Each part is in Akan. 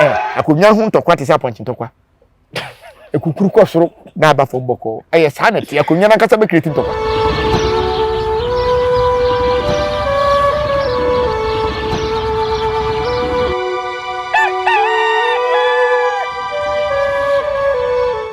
Eh, akonnwa ho ntɔkwa te sɛ apɔnkye ntɔkwa ekukuru kɔ soro na aba fam bɔkɔɔ ɛyɛ saa na ɛte akonnwa no ankasa bɛkireti ntɔkwa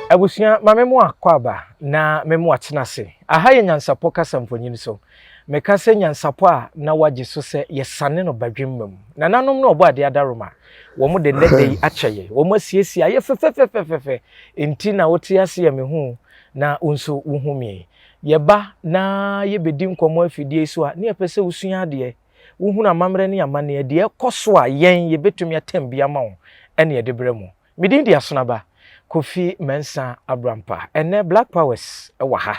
abusua ma me mu akɔ aba na me mu atena ase Aha yɛ nyansapɔ kasa mfonyin so. Meka sɛ nyansapɔ a na wɔagye so sɛ yɛsane no badwemma mu. Nananom ne Ɔbɔadeɛ adaworoma, wɔde nnɛ da yi akyɛ yɛn. Wɔasiesie ayɛ fɛfɛfɛfɛfɛfɛ, enti na wote ase a mihu wo na wo nso wuhu me. Yɛba na yebedi nkɔmmɔ afidie yi so a, na yɛpɛ sɛ wusua adeɛ, wuhunu amammerɛ ne amanneɛ, deɛ ɛrekɔ so a yɛn yebetumi atam bi ama wo, ɛnna yɛde brɛ mo. Me din de Asonaba Kofi Mensah Abrampah. Ɛnnɛ Black Powers wɔ ha,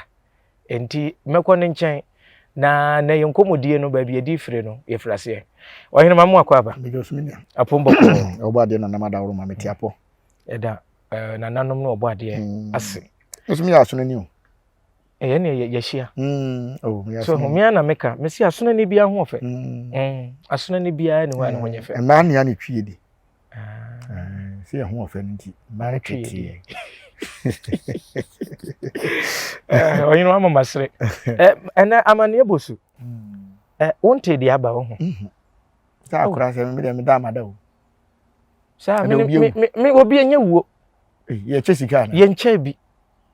enti mɛkɔ ne nkyɛn na na yɛn nkɔmmɔdie no baabi adi fire no yɛfiri aseɛ. Ɔhene Mamu akɔ aba. Mede ɔsumi nya. Apom bɔkɔɔ. Ɔbɔ adeɛ nanam adaworo ma mete apɔ. Ɛda eh, nananom ne ɔbɔ adeɛ hmm. ase. Nso meyɛ asono ni o. ɛyɛ ne ɛyɛ yɛhyia mm, oh, so homea na meka mesi asona ne biara ho ɔfɛ mm. mm. asona ne biara ne hɔ a ne ho nyɛ fɛ mmaa nea ne twie de ah. eh, sɛ yɛ ho ɔfɛ no nti mmaa tweteɛ eh, ɔyene wama masere eh, ɛnɛ amanneɛ bɔ su mm. wonte deɛ aba wo ho mhm. sɛ akora oh. sɛ medeɛ meda amada o sɛ obi ɛnyɛ wuo yɛkyɛ sika yɛnkyɛ bi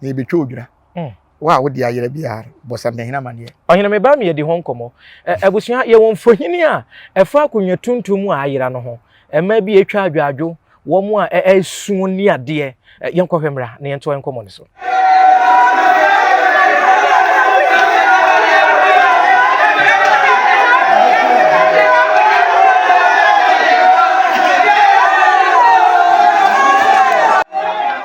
na yɛbɛtwa odwira. Hmm. Wo a wode ayera biara bɔ sɛ mpanyini amanneɛ. Ɔhene me ba mi yɛdi ho nkɔmmɔ. Abusua yɛwɔ mfohini a ɛfa akonnwa tuntum a ayera no ho. Mmaa bi atwa adwaadwo wɔn a ɛresuo e, e, ni adeɛ. Yɛnkɔhwɛ mmra na yɛntoa nkɔmmɔ no so.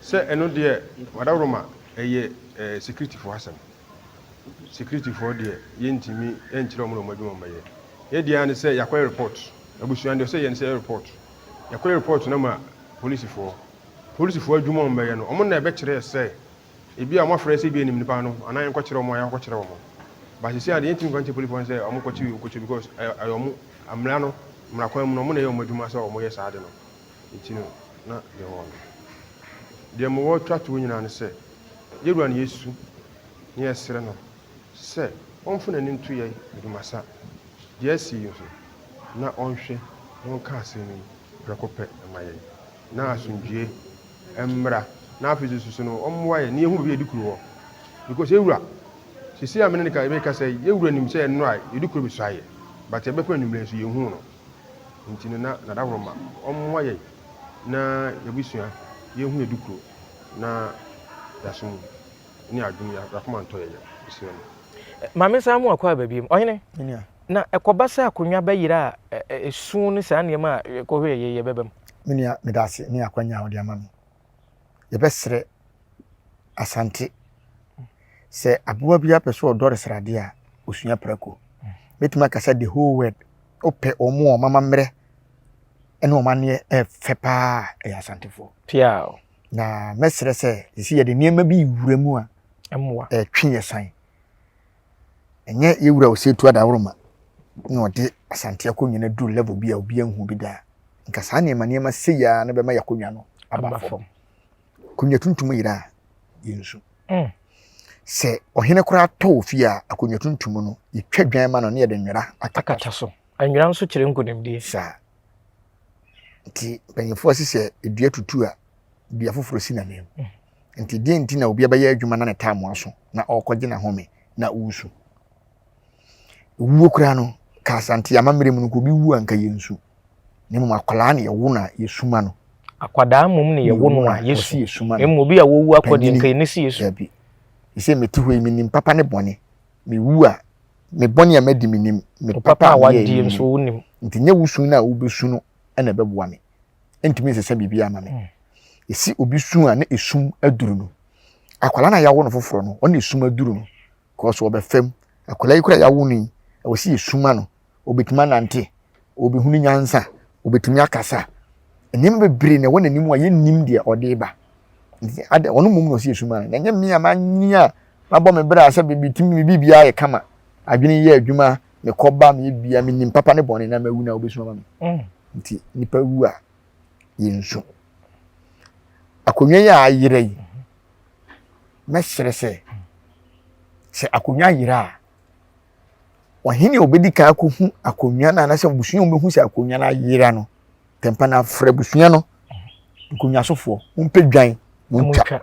Sɛ ɛno deɛ wadaworo ma ɛyɛ securityfoɔ asɛm. Securityfoɔ deɛ yɛntumi nkyerɛ wɔn na wɔn adwuma wɔbɛyɛ. Yɛ deɛ ne sɛ yɛakɔyɛ report. Abusua deɛ ɔsɛ yɛ ne sɛ yɛ report. Yɛkɔyɛ report no ma polisifoɔ. Polisifoɔ adwuma wɔn bɛyɛ no wɔn na ɛbɛkyerɛ sɛ ebi a wɔn afrɛ sɛ ebi a yɛnim nipa no anaa yɛnkɔkyerɛ wɔn a yɛakɔkyerɛ wɔn. But sisi a deɛ yɛntumi nka nkyerɛ polisifoɔ no sɛ wɔn kɔkyerɛ obi kɔkyerɛ obi because ɛyɛ wɔn mmara no mmara kwan mu no wɔn na ɛyɛ wɔn adwuma sɛ wɔyɛ saa ade no. nti no na yɛwɔ no. Deɛ mewɔ twa toɔ nyinaa ne sɛ, yɛwura no yɛsu na yɛsrɛ no sɛ ɔmfa n'ani nto yɛn dwumasa deɛ asi yi ho na ɔnhwɛ na ɔnka asɛm yi prɛko pɛ mma yɛn na asomdwoeɛ mmra na afei nso so no ɔmmoa yɛn na yɛhu baabi a yɛde kuro wɔ because yɛwura sisi a mene ne ka yɛbɛkasa yi yɛwura nim sɛ yɛn nnora yɛde kuro bɛsua yɛ but yɛbɛkɔ anwummerɛ nso yɛnhuu no. Nti no na na dahoro ma ɔmmoa yɛn na yɛabusua yɛhu yɛ dukuro na yɛaso mu ne adwene yɛakoma ntɔ yɛ yɛn abusua mu. Maame saa mu akɔ aba biom. Ɔhene, na ɛkɔba sɛ akonnwa bɛyera a ɛso ne saa nneɛma a yɛkɔhwɛ yɛ yɛbɛba mu? Me nua, meda ase ne akwanya a wode ama me. yɛbɛsrɛ Asante sɛ aboa bi apɛ sɛ ɔdɔre sradeɛ a ɔsua prako mɛtumi aka sɛ the whole world wopɛ wɔn a wɔn amammerɛ ne wɔn aneɛ ɛfɛ paa ɛyɛ asantefoɔ na mɛsrɛ sɛ ɛsi yɛde nneɛma bi wura mu a ɛtwe yɛ san Ɛnyɛ yɛ wura Osetu Adaworoma na ɔde Asante akonnwa no duru level bi a obi anhu bi da a. Nka saa nneɛma nneɛma sei ara no bɛma yɛakonnwa no aba fam. Akonnwa tuntum yera a, yɛnsu. Mm. Sɛ ɔhene koraa tɔ wɔ fie a, akonnwa tuntum no, yɛtwa dwan ma no ne yɛde nwera akata so. Nwera nso kyerɛ nkonimdie. Saa. Nti mpanyinfoɔ se sɛ dua tutu a, dua foforɔ si n'anim. Mm. Enti deɛn nti na obi abɛyɛ adwuma na ne taamu aso na ɔrekɔgye n'ahome na woresu? Ewuo koraa no, ka Asante amammerɛ mu no, nka obi wu a nka yɛnsu. Na mmom akwadaa na yɛwo no a yɛsu ma no. Akwadaa mmom na yɛwo no a yɛsu. Na mmom obi a wawu akɔ deɛ nka yɛne si yɛsu. Dabi. Ɛsɛ mete hɔ yi menim papa ne bɔne. Mewu a, me bɔne a madi menim, me papa a meyɛɛ menim. Nti nyɛ wo su no a wobɛsu no na ɛbɛboa me. ntumi nsesa biribi ama me ɛsi obi su a na ɛsum aduru no akwala na yɛawo no foforɔ no ɔne ɛsum aduru no kɔɔso ɔbɛfam akwala yi kora yɛawo no yi ɛwɔ sɛ yɛsuma no ɔbɛtumi anante ɔbɛhunu nyansa ɔbɛtumi akasa nneɛma bebree na ɛwɔ n'anim a yɛnnim deɛ ɔde ba ɔno mmom na ɔsɛ yɛsuma no na ɛnyɛ me a manyi a mabɔ me berɛ a sɛ biribi tumi biribiara yɛ kama adwene yɛ adwuma mekɔ ba me bia me nim papa ne bɔne na mawu na wobɛsu ama me mm. nti nipa wu a yɛnsu akonnwa yi a ayerɛ yi mɛsrɛ sɛ sɛ akonnwa ayerɛ a ɔhene a ɔbɛdi kan akɔhu akonnwa no anasɛ abusua a wɔbɛhu sɛ akonnwa no ayera no tɛmpa no afrɛ abusua no nkonnwasofoɔ mompɛ dwan montwa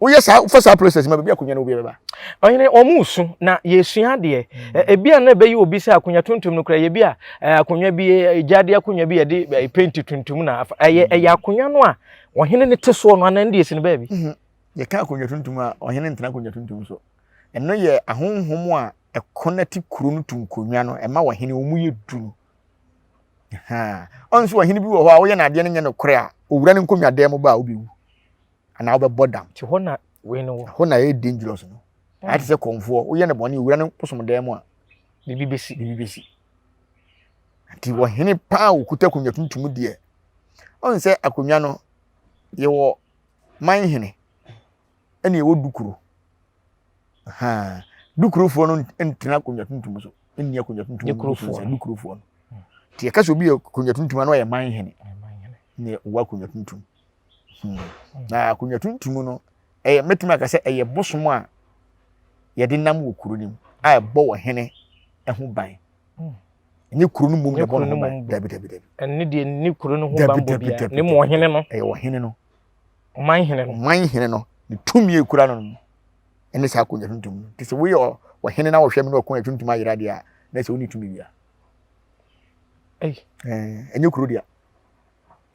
woyɛ saa wofa saa process ma baabi akonya no obiara bɛba. ɔhene wɔn mu so na yɛsua adeɛ mm. ebi a na ɛbɛyɛ obi sɛ akonnwa tuntum no kora yɛ bi a akonnwa bi gyaade akonnwa bi yɛde penti tuntum na ɛyɛ ɛyɛ akonnwa no a ɔhene no te soɔ no anan deɛ si no baabi. Mhm. yɛka akonnwa tuntum a ɔhene ntena akonnwa tuntum so ɛno yɛ ahonhom a ɛkɔ no te kuro no to nkonnwa no ɛma ɔhene wɔn mu yɛ duru ɔnso ɔhene bi wɔ hɔ a woyɛ n'adeɛ no nyɛ no korɛ a owura no nkonnwa dan mu ba a wobɛwu anaa wobɛbɔ dam. Ti hɔ na wei no wɔ. Hɔ na ɛyɛ dangerous no. Ayɛ te sɛ kɔnfoɔ woyɛ no bɔne owura no bosom dan mu a. Biribi bɛsi. Biribi bɛsi. Nti wɔhene paa wɔkuta akonnwa tuntum deɛ. Ɔn sɛ akonnwa no yɛwɔ man hene ɛna yɛwɔ dukuro. Ahaa dukurofoɔ no ntena akonnwa tuntum so nni akonnwa tuntum dukurofoɔ no. Dukurofoɔ no. Nti yɛka sɛ obi yɛ akonnwa tuntum ano ɔyɛ man hene. Ɛna ɛwɔ akonnwa tuntum. Hmm. Na akonnwa tuntum no, ɛyɛ mɛtumi aka sɛ ɛyɛ bosom a yɛde nam wɔ kuro no mu a ɛbɔ wɔ hene ho ban. Hmm. Nye kuro no mu na ɛbɔ no ho ban. Dabi dabi dabi. Ɛne deɛ ne kuro no ho ban bɔ bia. Ne mu ɔhene no. Ɛyɛ ɔhene no. Ɔman hene no. Ɔman hene no. Ne tumi ekura no no. Ɛne saa akonnwa tuntum no. Te sɛ woyɛ ɔhene na wɔhwɛ mu na ɔkonnwa tuntum ayera deɛ a, na ɛsɛ wo ne tumi wia. Ɛnyɛ kuro deɛ.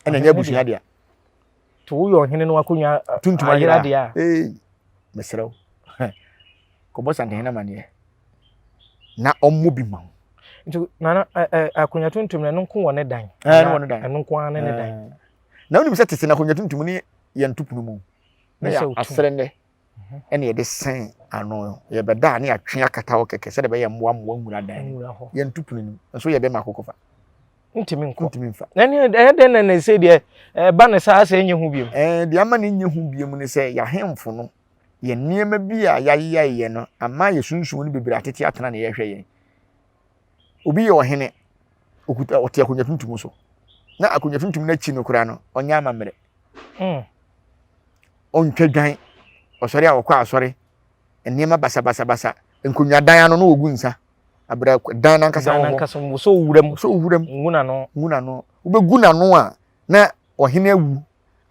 ɛna ɛnyɛ abusua deɛ to woyɛ ɔhene no akonnwa tuntum ayera deɛ a ee mesrɛ wo kɔbɔ santehene amaneɛ na ɔmmɔ bi ma wo nti nana akonnwa tuntum no ɛno nko wɔ ne dan ɛno wɔ ne dan ɛno nko ara ne ne dan na wonim sɛ tete no akonnwa tuntum ne yɛn topunu mu na yɛ asrɛ nnɛ na yɛde sɛn ano no, yɛbɛda a na yɛatwe akata hɔ kɛkɛ sɛdeɛ ɛbɛyɛ mmoa mmoa nwura dan mu. Yɛnto pono no mu. Nso yɛ dɛn ma akokɔ fa? Ntumi nkɔ. Ntumi nfa. Na ne ɛyɛ dɛn na ne se deɛ ɛba ne saa sɛ ɛnyɛ ho biom? Ɛɛ deɛ ama ne nyɛ ho biom ne sɛ yɛahemfo no yɛ nneɛma bi a yɛayeyɛyɛ no ama yɛsunsuo no bebree atete atena na yɛhwɛ yɛn. obi yɛ ɔhene, okuta ɔte akonnwa tuntum so, na akonnwa tuntum no akyi no koraa no, ɔnyɛ amammerɛ. Hmm. Ɔntwa dwan, ɔsɔre a ɔkɔ asɔre, nneɛma basabasabasa, nkonnwadan ano na ogu nsa. Abira dan nankasa wɔ hɔ. Nankasa wɔ so wuram. So wuram. Nguna no. Nguna no. Wobɛgu n'ano a na ɔhene awu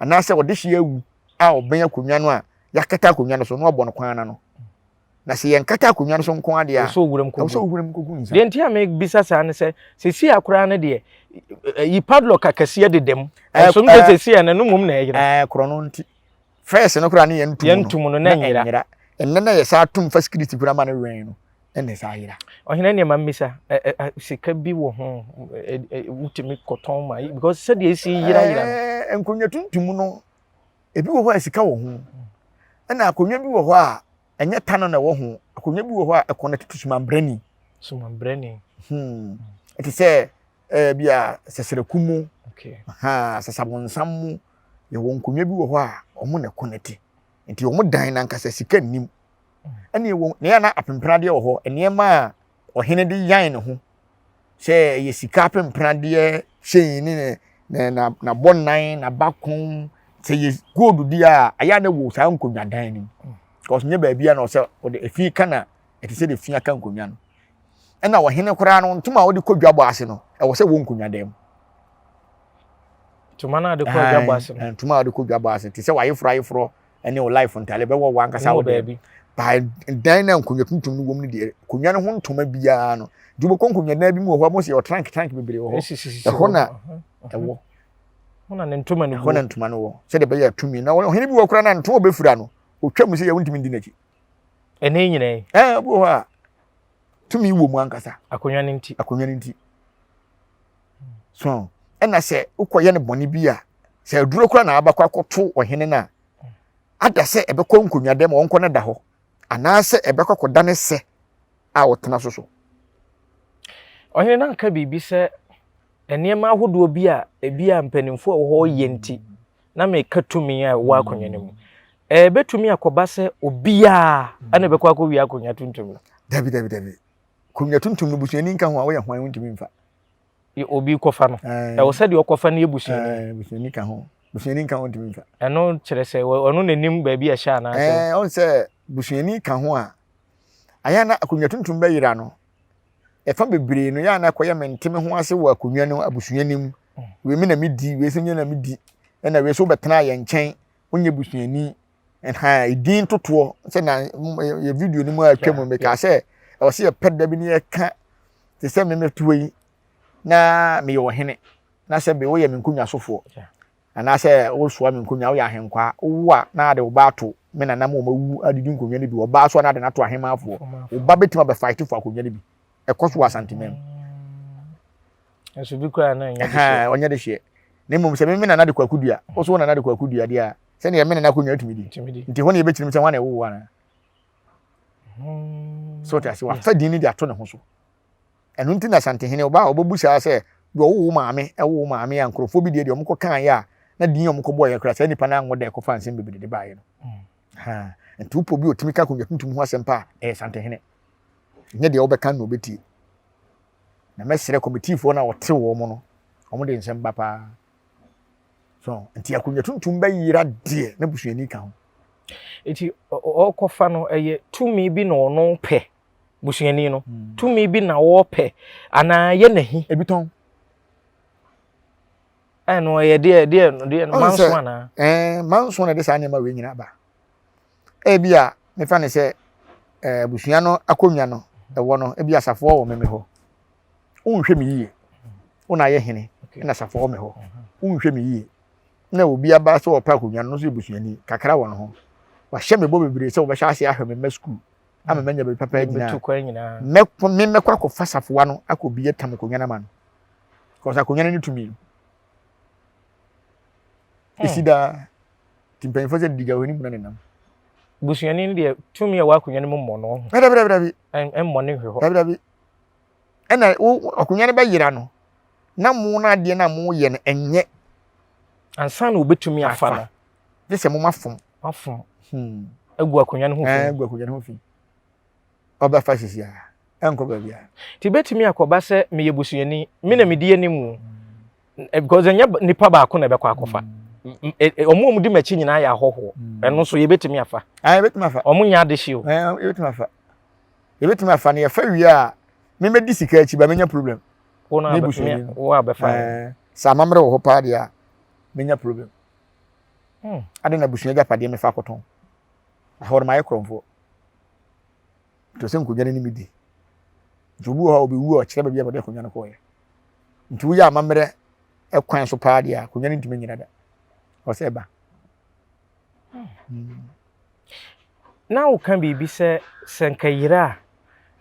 anaasɛ ɔdehye awu a ɔbɛn akonnwa no a yɛakata akonnwa no so na ɔbɔ no kwan ano. Na sɛ yɛnkata akonnwa no so nko ara deɛ a, wosɔ wuram kɔgu. Wosɔ wuram kɔgu nsa. Deɛ nti a mebisa saa ne sɛ, sɛsi a koraa no deɛ, yi padlock akɛseɛ deda mu. Ɛnso no sɛ sɛsi a na no mmom na ɛyera. Ɛɛ korɔ no nti. Fɛs no koraa ne yɛn ntum no. Yɛn ntum no na ɛnyera. Ɛnɛ na yɛ saa tum fa sikiriti koraa ma no wɛn no. Ɛna ɛsa ayera. Ɔhene nneɛ ma mmisa, sika bi wɔ ho, wotumi kɔtɔn ma, because sɛdeɛ ɛsi yera yera. Ɛɛ nkonnwa tuntum no, Ebi wɔ hɔ a sika wɔ ho. Ɛna akonnwa bi wɔ hɔ a ɛnyɛ tano na ɛwɔ ho. Akonnwa bi wɔ hɔ a ɛkɔn no tutu sumanbrɛni. Sumanbrɛni. Hmm. Ɛte sɛ ɛɛ bi a sɛsɛrɛku mu. Okay. Ha sɛsabonsam mu. Yɛwɔ nkonnwa bi wɔ hɔ a wɔn na ɛkɔn no te. Nti wɔn dan no ankasa sika nnim. Hmm. Ɛna ɛwɔ na yɛ na apempenadeɛ wɔ hɔ. Nneɛma a ɔhene de yan ne ho sɛ ɛyɛ sika apempradeɛ hyɛn ne ne ne na n'abɔnan n'abakon sɛ yɛ gold di a ɛyɛ a na wɔ saa nkonnwa dan no mu because nyɛ baabi a na ɔsɛ ɔde efi ka na ɛte sɛ de fi aka nkonnwa no ɛna ɔhene koraa no ntoma a ɔde kɔ dwa bɔ ase no ɛwɔ sɛ wɔ nkonnwa dan mu. ntoma no a ɔde kɔ dwa bɔ ase no ntoma a ɔde kɔ dwa bɔ ase te sɛ wayeforo ayeforo ɛne wo life ntade bɛwɔ wankasa wo deɛ by dan na nkonnwa tuntum no wɔm no deɛ nkonnwa no ho ntoma biara no de wobɛkɔ nkonnwa dan bi mu wɔ hɔ a mosɛ yɛwɔ trank trank bebree wɔ hɔ ɛhɔ na ɛwɔ ɛhɔ na ntoma no ɛhɔ na ntoma no wɔ sɛdeɛ ɛbɛyɛ atumi na ɔhene bi wɔ koraa na ntoma ɔbɛfira no ɔtwa mu sɛ yɛ wontumi ndi n'akyi ɛne nyina yi ɛɛ bi wɔ hɔ a tumi wɔ mu ankasa akonnwa no nti akonnwa no nti so ɔn ɛna sɛ wokɔyɛ no bɔne bi a sɛ aduro kora na abɛkɔ akɔto ɔhene no a ada sɛ ɛbɛkɔ nkonnwadam a ɔnkɔ no da hɔ anaasɛ ɛbɛkɔ akɔda ne sɛ a ɔtena so so ɔhene no anka biribi sɛ nneɛma ahodoɔ bi a ebi a mpanimfoɔ a wɔwɔ yɛ nti na meka tumi a ɛwɔ akonnwa no mu ɛbɛtumi akɔba sɛ obiara ɛna ɛbɛkɔ akɔwie akonnwa tuntum no dabi dabi dabi konwa tuntum no busuani nka ho a woyɛ hwan wontumi mfa deɛ obi kɔfa no ɛwɔ sɛ deɛ ɔkɔfa no yɛ busuani busuani ka ho busuani nka ho ntumi mfa ɛno kyerɛ sɛ ɔno n'anim baabi a ɛhyɛ anaasɛ ɛɛ ɔn sɛ busuani ka ho a ayɛ na akonnwa tuntum bɛyera no ɛfa bebree no yɛ ana kɔyɛ me nteme ho ase wɔ akonnwa no abusua no mu mm. wei me na medi wei sɛ nyɛ na medi ɛna wei so wobɛtena yɛ nkyɛn wonyɛ busuani ɛhaa edin totoɔ sɛ na yɛ video no mu a atwa mu mekaa sɛ ɛwɔ sɛ yɛpɛ da bi ne yɛka te sɛ memetoɔ yi na meyɛ ɔhene na sɛ be woyɛ me nkonnwa sofoɔ anaasɛ wosoa me nkonnwa woyɛ ahenkwaa wowo a na ade wo ba ato me nanam wɔn awu adidi nkonnwa no bi ɔbaa so a na ade no ato ahemmanfoɔ wo ba bɛtumi abɛfaete fo akonnwa no bi ɛkɔ so wɔ asanteman mu nso bi koraa na ɛnyɛ de hyeɛ ɔnyɛ de hyeɛ na mmom sɛ meme nana de kwaku dua wo so wo nana de kwaku dua deɛ a sɛdeɛ me nana kɔnwa atumi di nti hɔ ne yɛbɛkyirim sɛ wane ɛwowo anaa hmm. so te ase wafa din no de ato ne ho so ɛno nti na santehene ɔba a ɔbɛbu saa sɛ deɛ ɔwo wo maame ɛwo wo maame a nkurɔfoɔ bi deɛ deɛ ɔmokɔ kaeɛ a na din a ɔmokɔ bɔɔyɛ koraa saa nnipa no anwo dɛ kɔfa nsɛm bebree de baeɛ no hmm. nti wopɔ bi ɔtumi ka akonnwa tuntum ho asɛm pa a ɛyɛ santehene nyɛ deɛ wobɛka na ɔbɛtie na mɛsrɛ kɔmitiifoɔ no a wɔte wɔn no, wɔn de nsɛm ba paa. So nti akonnwa tuntum bɛyera deɛ na busuani ka ho. Nti ɔkɔfa no ɛyɛ tumi bi na ɔno pɛ busuani no hmm. tumi bi na ɔpɛ anaa yɛ n'ahi. Ebi tɔn. Ɛno ɛyɛ deɛ deɛ deɛ manso anaa. Ɛɛ manso na ɛde saa nneɛma wei nyina ba. Ebi a mefa no sɛ eh, abusua no akonnwa no ɛwɔ no, ebi asafoɔ wɔ me hɔ. Wonhwɛ me yie. Wo na ayɛ hene, na asafoɔ wɔ me hɔ. Wonhwɛ me yie. Na obi aba sɛ ɔpɛ akonnwa no, no nso yɛ busuani, kakra wɔ ne ho. Wahyɛ me bɔ bebree sɛ wɔbɛhyɛ ase ahwɛ me mma sukuu ama manya baabi papa agyina. Me mɛkɔ akɔfa safoa no akɔ bi atam akonnwa no ama no. Kɔsa akonnwa no ne tumi no. Ɛsi daa. Ti mpanyinfoɔ sɛ didi gya wɔ ne muna nenam. Busuani no deɛ tumi a ɛwɔ akonnwa no mu mmɔ no ɔho. Dabi dabi dabi. Mmɔ ne hwɛ hɔ. Dabi dabi. Ɛna wo akonnwa no bɛyera no na mo no adeɛ no a moyɛ no ɛnyɛ. Ansa na wobɛtumi afa no. Gye sɛ mo mafom. Mafom. Hmm. Agu akonnwa no ho fi. Agu akonnwa no ho fi. ɔbɛfa sisi a, ɛnkɔ baabiara. Nti ebetumi akɔba sɛ meyɛ busuani, me na medi anim o, because ɛnyɛ nipa baako na ɛbɛkɔ akɔfa. Wɔn a wɔdi m'akyi nyinaa yɛ ahɔhoɔ. Ɛno nso yɛbɛtumi afa. Yɛbɛtumi afa. Wɔn nyɛ adehyew. Yɛbɛtumi afa. Yɛbɛtumi afa na yɛfa wie a, memɛdi sika akyi ba menya problem. Wo na abɛfa. Wo abɛfa. Sɛ amammerɛ wɔ hɔ paa deɛ a, menya problem. Hmm. Ade na abusua agyapadeɛ mefa akɔtɔn. Ahɔrɔmayɛ korɔmfoɔ. nti ɔsɛ nkonnwa no ne me di nti obi wɔ hɔ a ɔbɛwu a ɔkyerɛ baabi a wɔde akonnwa no kɔɔyɛ nti woyɛ amammerɛ kwan so paa deɛ a akonnwa no ntumi nyina da ɔsɛ ɛba hmm. na woka biribi sɛ sɛ nka yere a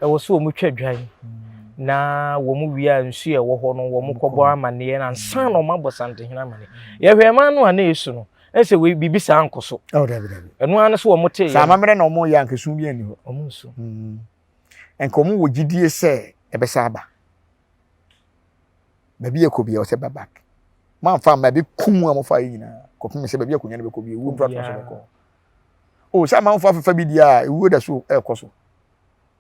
ɛwɔ sɛ wɔn twa dwan hmm. na wɔn wie a nsuo a ɛwɔ hɔ no wɔn kɔbɔ amanneɛ na nsa na wɔn abɔ santehene amanneɛ yɛhwɛ ɛman no a na esu no ɛsɛ wei biribi saa nkɔ so oh, ɛno ara ne so wɔn tee yɛ amammerɛ na wɔn yɛ ankesu bi ani hɔ wɔn nso mm. nka wɔn wɔ gyidie sɛ ɛbɛsa aba baabi yɛ kɔ bi a ɔsɛ ba back mamfa mma ɛbi kum a mofa yi nyinaa kɔpem sɛ baabi akonnwa no bɛkɔ bi ɛwuo mpratoma so bɛkɔ o sɛ amanfo afefa bi di a ɛwuo da so ɛrekɔ so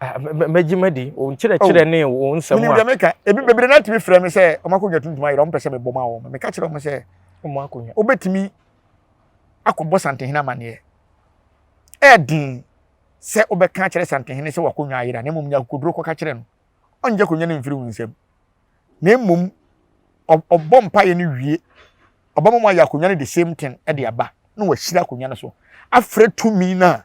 mɛgye madi wo nkyerɛkyerɛ oh. ne wo nsɛm a wonim meka ebi bebree na tumi frɛ me sɛ ɔmo akonnwa tuntum ayera ɔmo pɛ sɛ mebɔ ma wɔn meka kyerɛ ɔmo sɛ ɔmo akonnwa wobɛtumi akɔbɔ santehene amanneɛ ɛɛden sɛ wobɛka akyerɛ santehene sɛ wakonnwa ayera na mmom nya akokoduro kɔka kyerɛ no ɔnyɛ akonnwa no mfiri wo nsam na mmom ɔbɔ mpaeɛ no wie ɔbɛma mo ayɛ akonnwa no the same thing de aba na wahyira akonnwa no so afrɛ tumi no a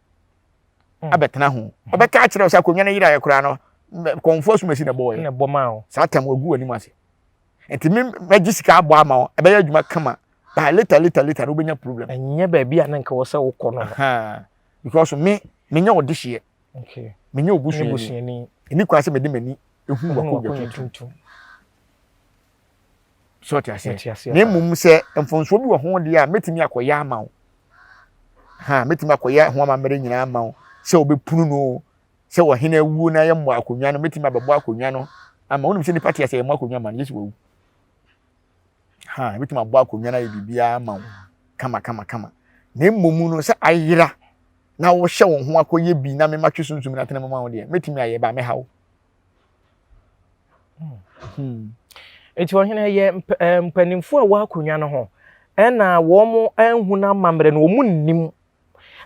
hmm. abɛtena ho hmm. ɔbɛka akyerɛ sɛ akonnwa no yeraeɛ koraa no kɔmfoɔ asumasi na ɛbɔɔyɛ saa tam agu w'anim ase nti me mɛgye sika abɔ ama wo ɛbɛyɛ adwuma kama by later later later no wobɛnya problem ɛnyɛ baabi a na nka wɔ sɛ wokɔ no because me menyɛ ɔde hyeɛ menyɛ obusuani ɛni kwan sɛ mede m'ani ɛhu wakɔ dwa tuntum so ɔte aseɛ na mmom sɛ mfonsoɔ bi wɔ ho deɛ a mɛtumi akɔyɛ ama wo ha mɛtumi akɔyɛ ho amammerɛ nyinaa ama wo sɛ wɔbɛpunu no sɛ ɔhene awuo no ayɛ mmɔ akonnwa no mɛtumi abɛbɔ akonnwa no ama wonim sɛ nnipa te aseɛ yɛmmɔ akonnwa ma no yesu wawu ha mɛtumi abɔ akonnwa no ayɛ biribiara ama wo kama kama kama na mmom no sɛ ayera na wohyɛ wo ho akɔyɛ bi na mematwe sunsum no atena mu ma wo deɛ mɛtumi ayɛ ba mɛha wo Enti ɔhene yɛ eh, mpanimfoɔ a ɛwɔ akonnwa no ho ɛna wɔanhu no amammerɛ no wɔn nnim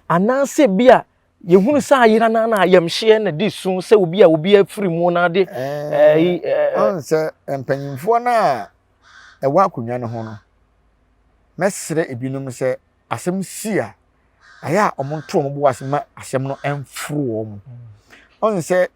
anaasɛ bi a yɛhunu sɛ ayera no na ayamhyeɛ na di so sɛ obi a obi afiri mu na ade eh, eh, sɛ mpanimfoɔ no a ɛwɔ akonnwa no ho no mɛsrɛ ebinom sɛ asɛm si a ɛyɛ a wɔnto wɔn bo ase ma asɛm no mforo wɔn ɔn sɛ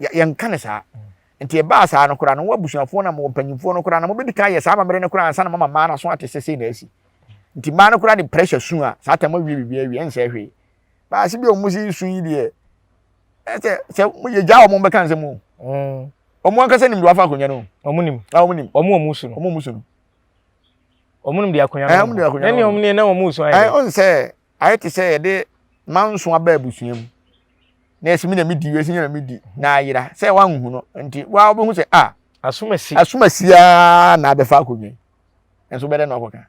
yɛ yɛnka no saa nti ɛbaa saa no koraa no wɔabusuafoɔ no wɔn mpanyinfoɔ no koraa na wɔbɛdi kan yɛ saa amammerɛ no koraa ansa na mama mmaa no aso ate sɛ sei na asi nti mmaa no koraa de pressure su a saa tam awie biribi awie ɛnsɛ hwee baase bi a wɔn si su yi deɛ ɛsɛ sɛ yɛ gya wɔn bɛka nsɛm o mm. wɔn ankasa nim de wafa akonnwa no wɔn nim na wɔn nim wɔn wɔn su no wɔn wɔn su no wɔn nim de akonnwa no wɔn nim de akonnwa no wɔn nim na wɔn su ayɛ ɔn sɛ ayɛ te sɛ yɛde manso aba abusua mu na yɛsɛ me na medi wei sɛ na medi na ayera sɛ wanhu no nti wa wobɛhu sɛ a asomasi asomasi a na abɛfa akonnwa yi nso bɛdɛ na ɔkɔka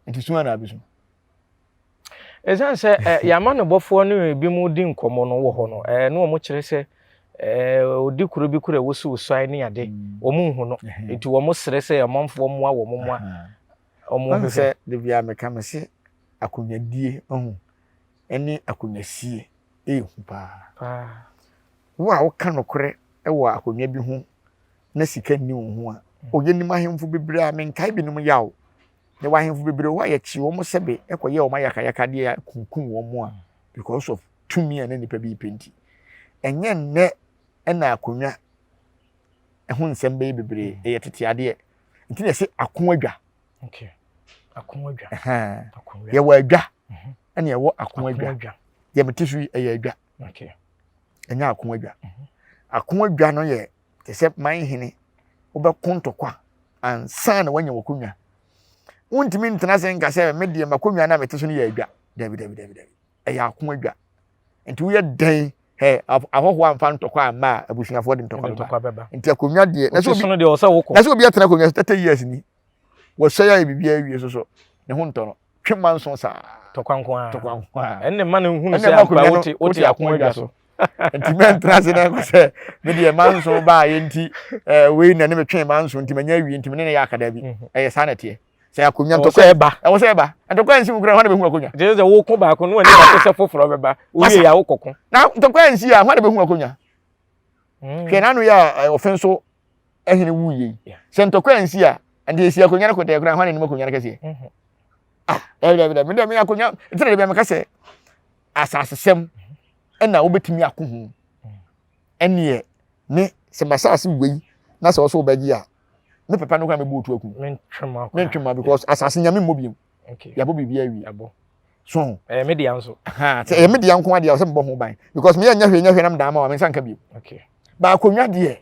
nti sua na abɛsu ɛsiane sɛ eh, yɛama no bɔfoɔ no ebi mu di nkɔmmɔ no wɔ hɔ no eh, ne wɔn kyerɛ sɛ eh, ɔdi kuro bi kuro a wɔsiw sɔe ne ade mm. wɔn nhu no nti wɔn serɛ sɛ ɔmanfoɔ mmoa wɔn mmoa wɔn ho sɛ de bia meka me se akonwadie ho ne akonwasie yɛ hu paa. Wo a woka nokorɛ wɔ akonwa bi ho na sika nni wo ho a, o yɛnim ahemfo bebree a menkae binom yaw. Yɛwɔ ahemfo bebree hɔ a yɛkyee wɔn sɛbe kɔyɛɛ wɔn ayakayakadeɛ a kunkum wɔn a because of tumi a na nnipa bi repɛ nti. Ɛnyɛ nnɛ na akonwa ɛho nsɛm bɛyɛ bebree, ɛyɛ tete adeɛ. Nti na yɛse akoadwa. yɛwɔ adwa mhm. ɛna yɛwɔ ako adwa deɛ mete so yi ɛyɛ adwa ɛnyɛ ako adwa mhm. ako adwa no yɛ te sɛ man hene wobɛko ntɔkwa ansa na woanya wakonnwa wontumi ntena sɛ nka sɛ me deɛ makonnwa no a mete so no yɛ adwa dabi dabi dabi dabi ɛyɛ ako adwa nti woyɛ dɛn ɛ ahɔhoɔ amfa ntɔkwa amma a abusuafoɔ de ntɔkwa bɛba nti akonnwa deɛ na sɛ obi atena akonnwa so thirty years ni Wɔsɛe ayɛ biribiara wie nso so, ne ho ntɔ no. Twe mma nso saa. Tɔkwa nko ara. Tɔkwa nko ara. Ɛnna mma no nhunu sɛ akonnwa no wote akonnwa adwa so. Nti mɛntena ase na nkɔ sɛ me deɛ mma nso baayɛ nti eh, wei na ne metwe mma nso nti manya awie nti me ne no yɛ akadaa bi. Mhm. Ɛyɛ saa na ɛteɛ. Sɛ akonnwa ntɔkwa ɛba. Ɛwɔ sɛ ɛba. Ntɔkwa nsi mu kura hɔ na bɛhu akonnwa. Gyɛ sɛ woko baako no ani baako sɛ foforɔ bɛba. Wowie yɛ a wokɔko. Na ntɔkwa nsi a hɔ na bɛhu akonnwa. Mm. Hwɛ n'ano yɛ a eh, ɔfɛn so ɛhene wu yie. Sɛ ntɔkwa yɛn si a, ɛnde esi akonnwa no kɔtɛɛ koraa, hɔn anim akonnwa no kɛseɛ. Mm-hmm. Ah, dɛbi dɛbi dɛbi, mede mi akonnwa, nti na dɛbi ameka sɛ, asasesɛm mm-hmm. ɛna wobɛtumi ako ho. Mm. Ɛneɛ, ne sɛ masase wei na sɛ ɔso wobɛgye a, ne papa no kora mɛbu otu aku. Mentwe ma because asase nyame mmɔ biom. okay yɛabɔ biribi awie ɛbɔ so ho ɛyɛ me dea nso ha sɛ ɛyɛ me dea nko adeɛ a sɛ mebɔ ho ban because meyɛ nyɛ hwee nyɛ hwee nam daa ma wa me nsa nka bio okay ba akonnwa deɛ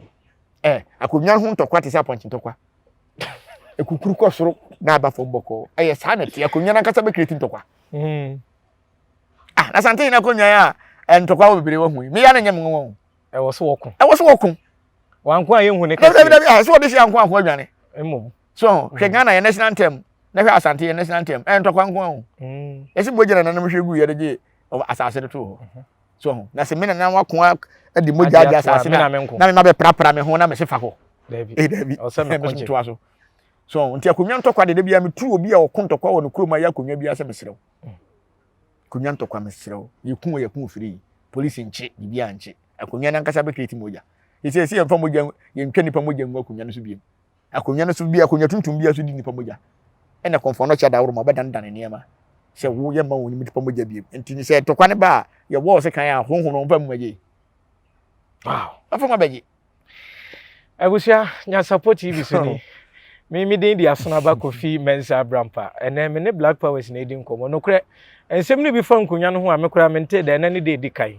ɛ akonnwa ho ntɔkwa te sɛ apɔnkye ntɔkwa ekukuru kɔ soro na aba fam bɔkɔɔ ɛyɛ saa na ɛte akonnwa nankasa bɛkiri ti ntɔkwa hmm. ah na sante yɛn akonnwa yɛ a eh, ntɔkwa wɔ bebree wɔ ho yi meya no nyɛ me nwa o ɛwɔ so wɔko ɛwɔ so wɔko wanko a yɛnhu ne kɛse dabi dabi ah ɛsɛ wɔde hyɛ anko anko adwane mmom so ho hwɛ ghana yɛn national anthem na hwɛ asante yɛn national anthem ɛyɛ ntɔkwa nko ho ɛsi mogya na nanom hwɛ gu yɛ de gye asase de to hɔ so ho na sɛ me nana wako de mogya agye asase na me ma bɛprapra me ho na mese fa hɔ ɛyɛ daabi ɛbɛsomtoa so so nti akonnwa ntɔkwa de da biara metu obi a ɔko ntɔkwa wɔ no kurom a yɛ akonnwa biara sɛ meserɛ wo akonnwa ntɔkwa meserɛ wo yɛku wɔ yɛku firi polisi nkye biribiara nkye akonnwa no ankasa bɛkreti mogya ɛsɛ ɛsɛ yɛmfa mogya yɛntwa nnipa mogya ngu akonnwa no so biom Akonnwa no so bi, akonnwa tuntum biara so di nnipa mogya. Ɛnna kɔmfoɔ no kyɛ daworo ma wɔbɛdanedane nneɛma sɛ wo yɛ mma wɔn nnipa mogya bio. Enti sɛ ntɔkwa no ba a, yɛwɔ ɔse kan a honhom no mfa mu agye. Wow! Afei mo abɛgye. Abusua, Nyansapɔ TV so ni. Me me din de Asenaba Kofi Mensah Abrampa. Ɛnɛ me ne Black Powers na edi nkɔmmɔ. Nokorɛ, nsɛm no bi fa nkonnwa no ho a me koraa mentee da ɛnɛ ne da edi kan.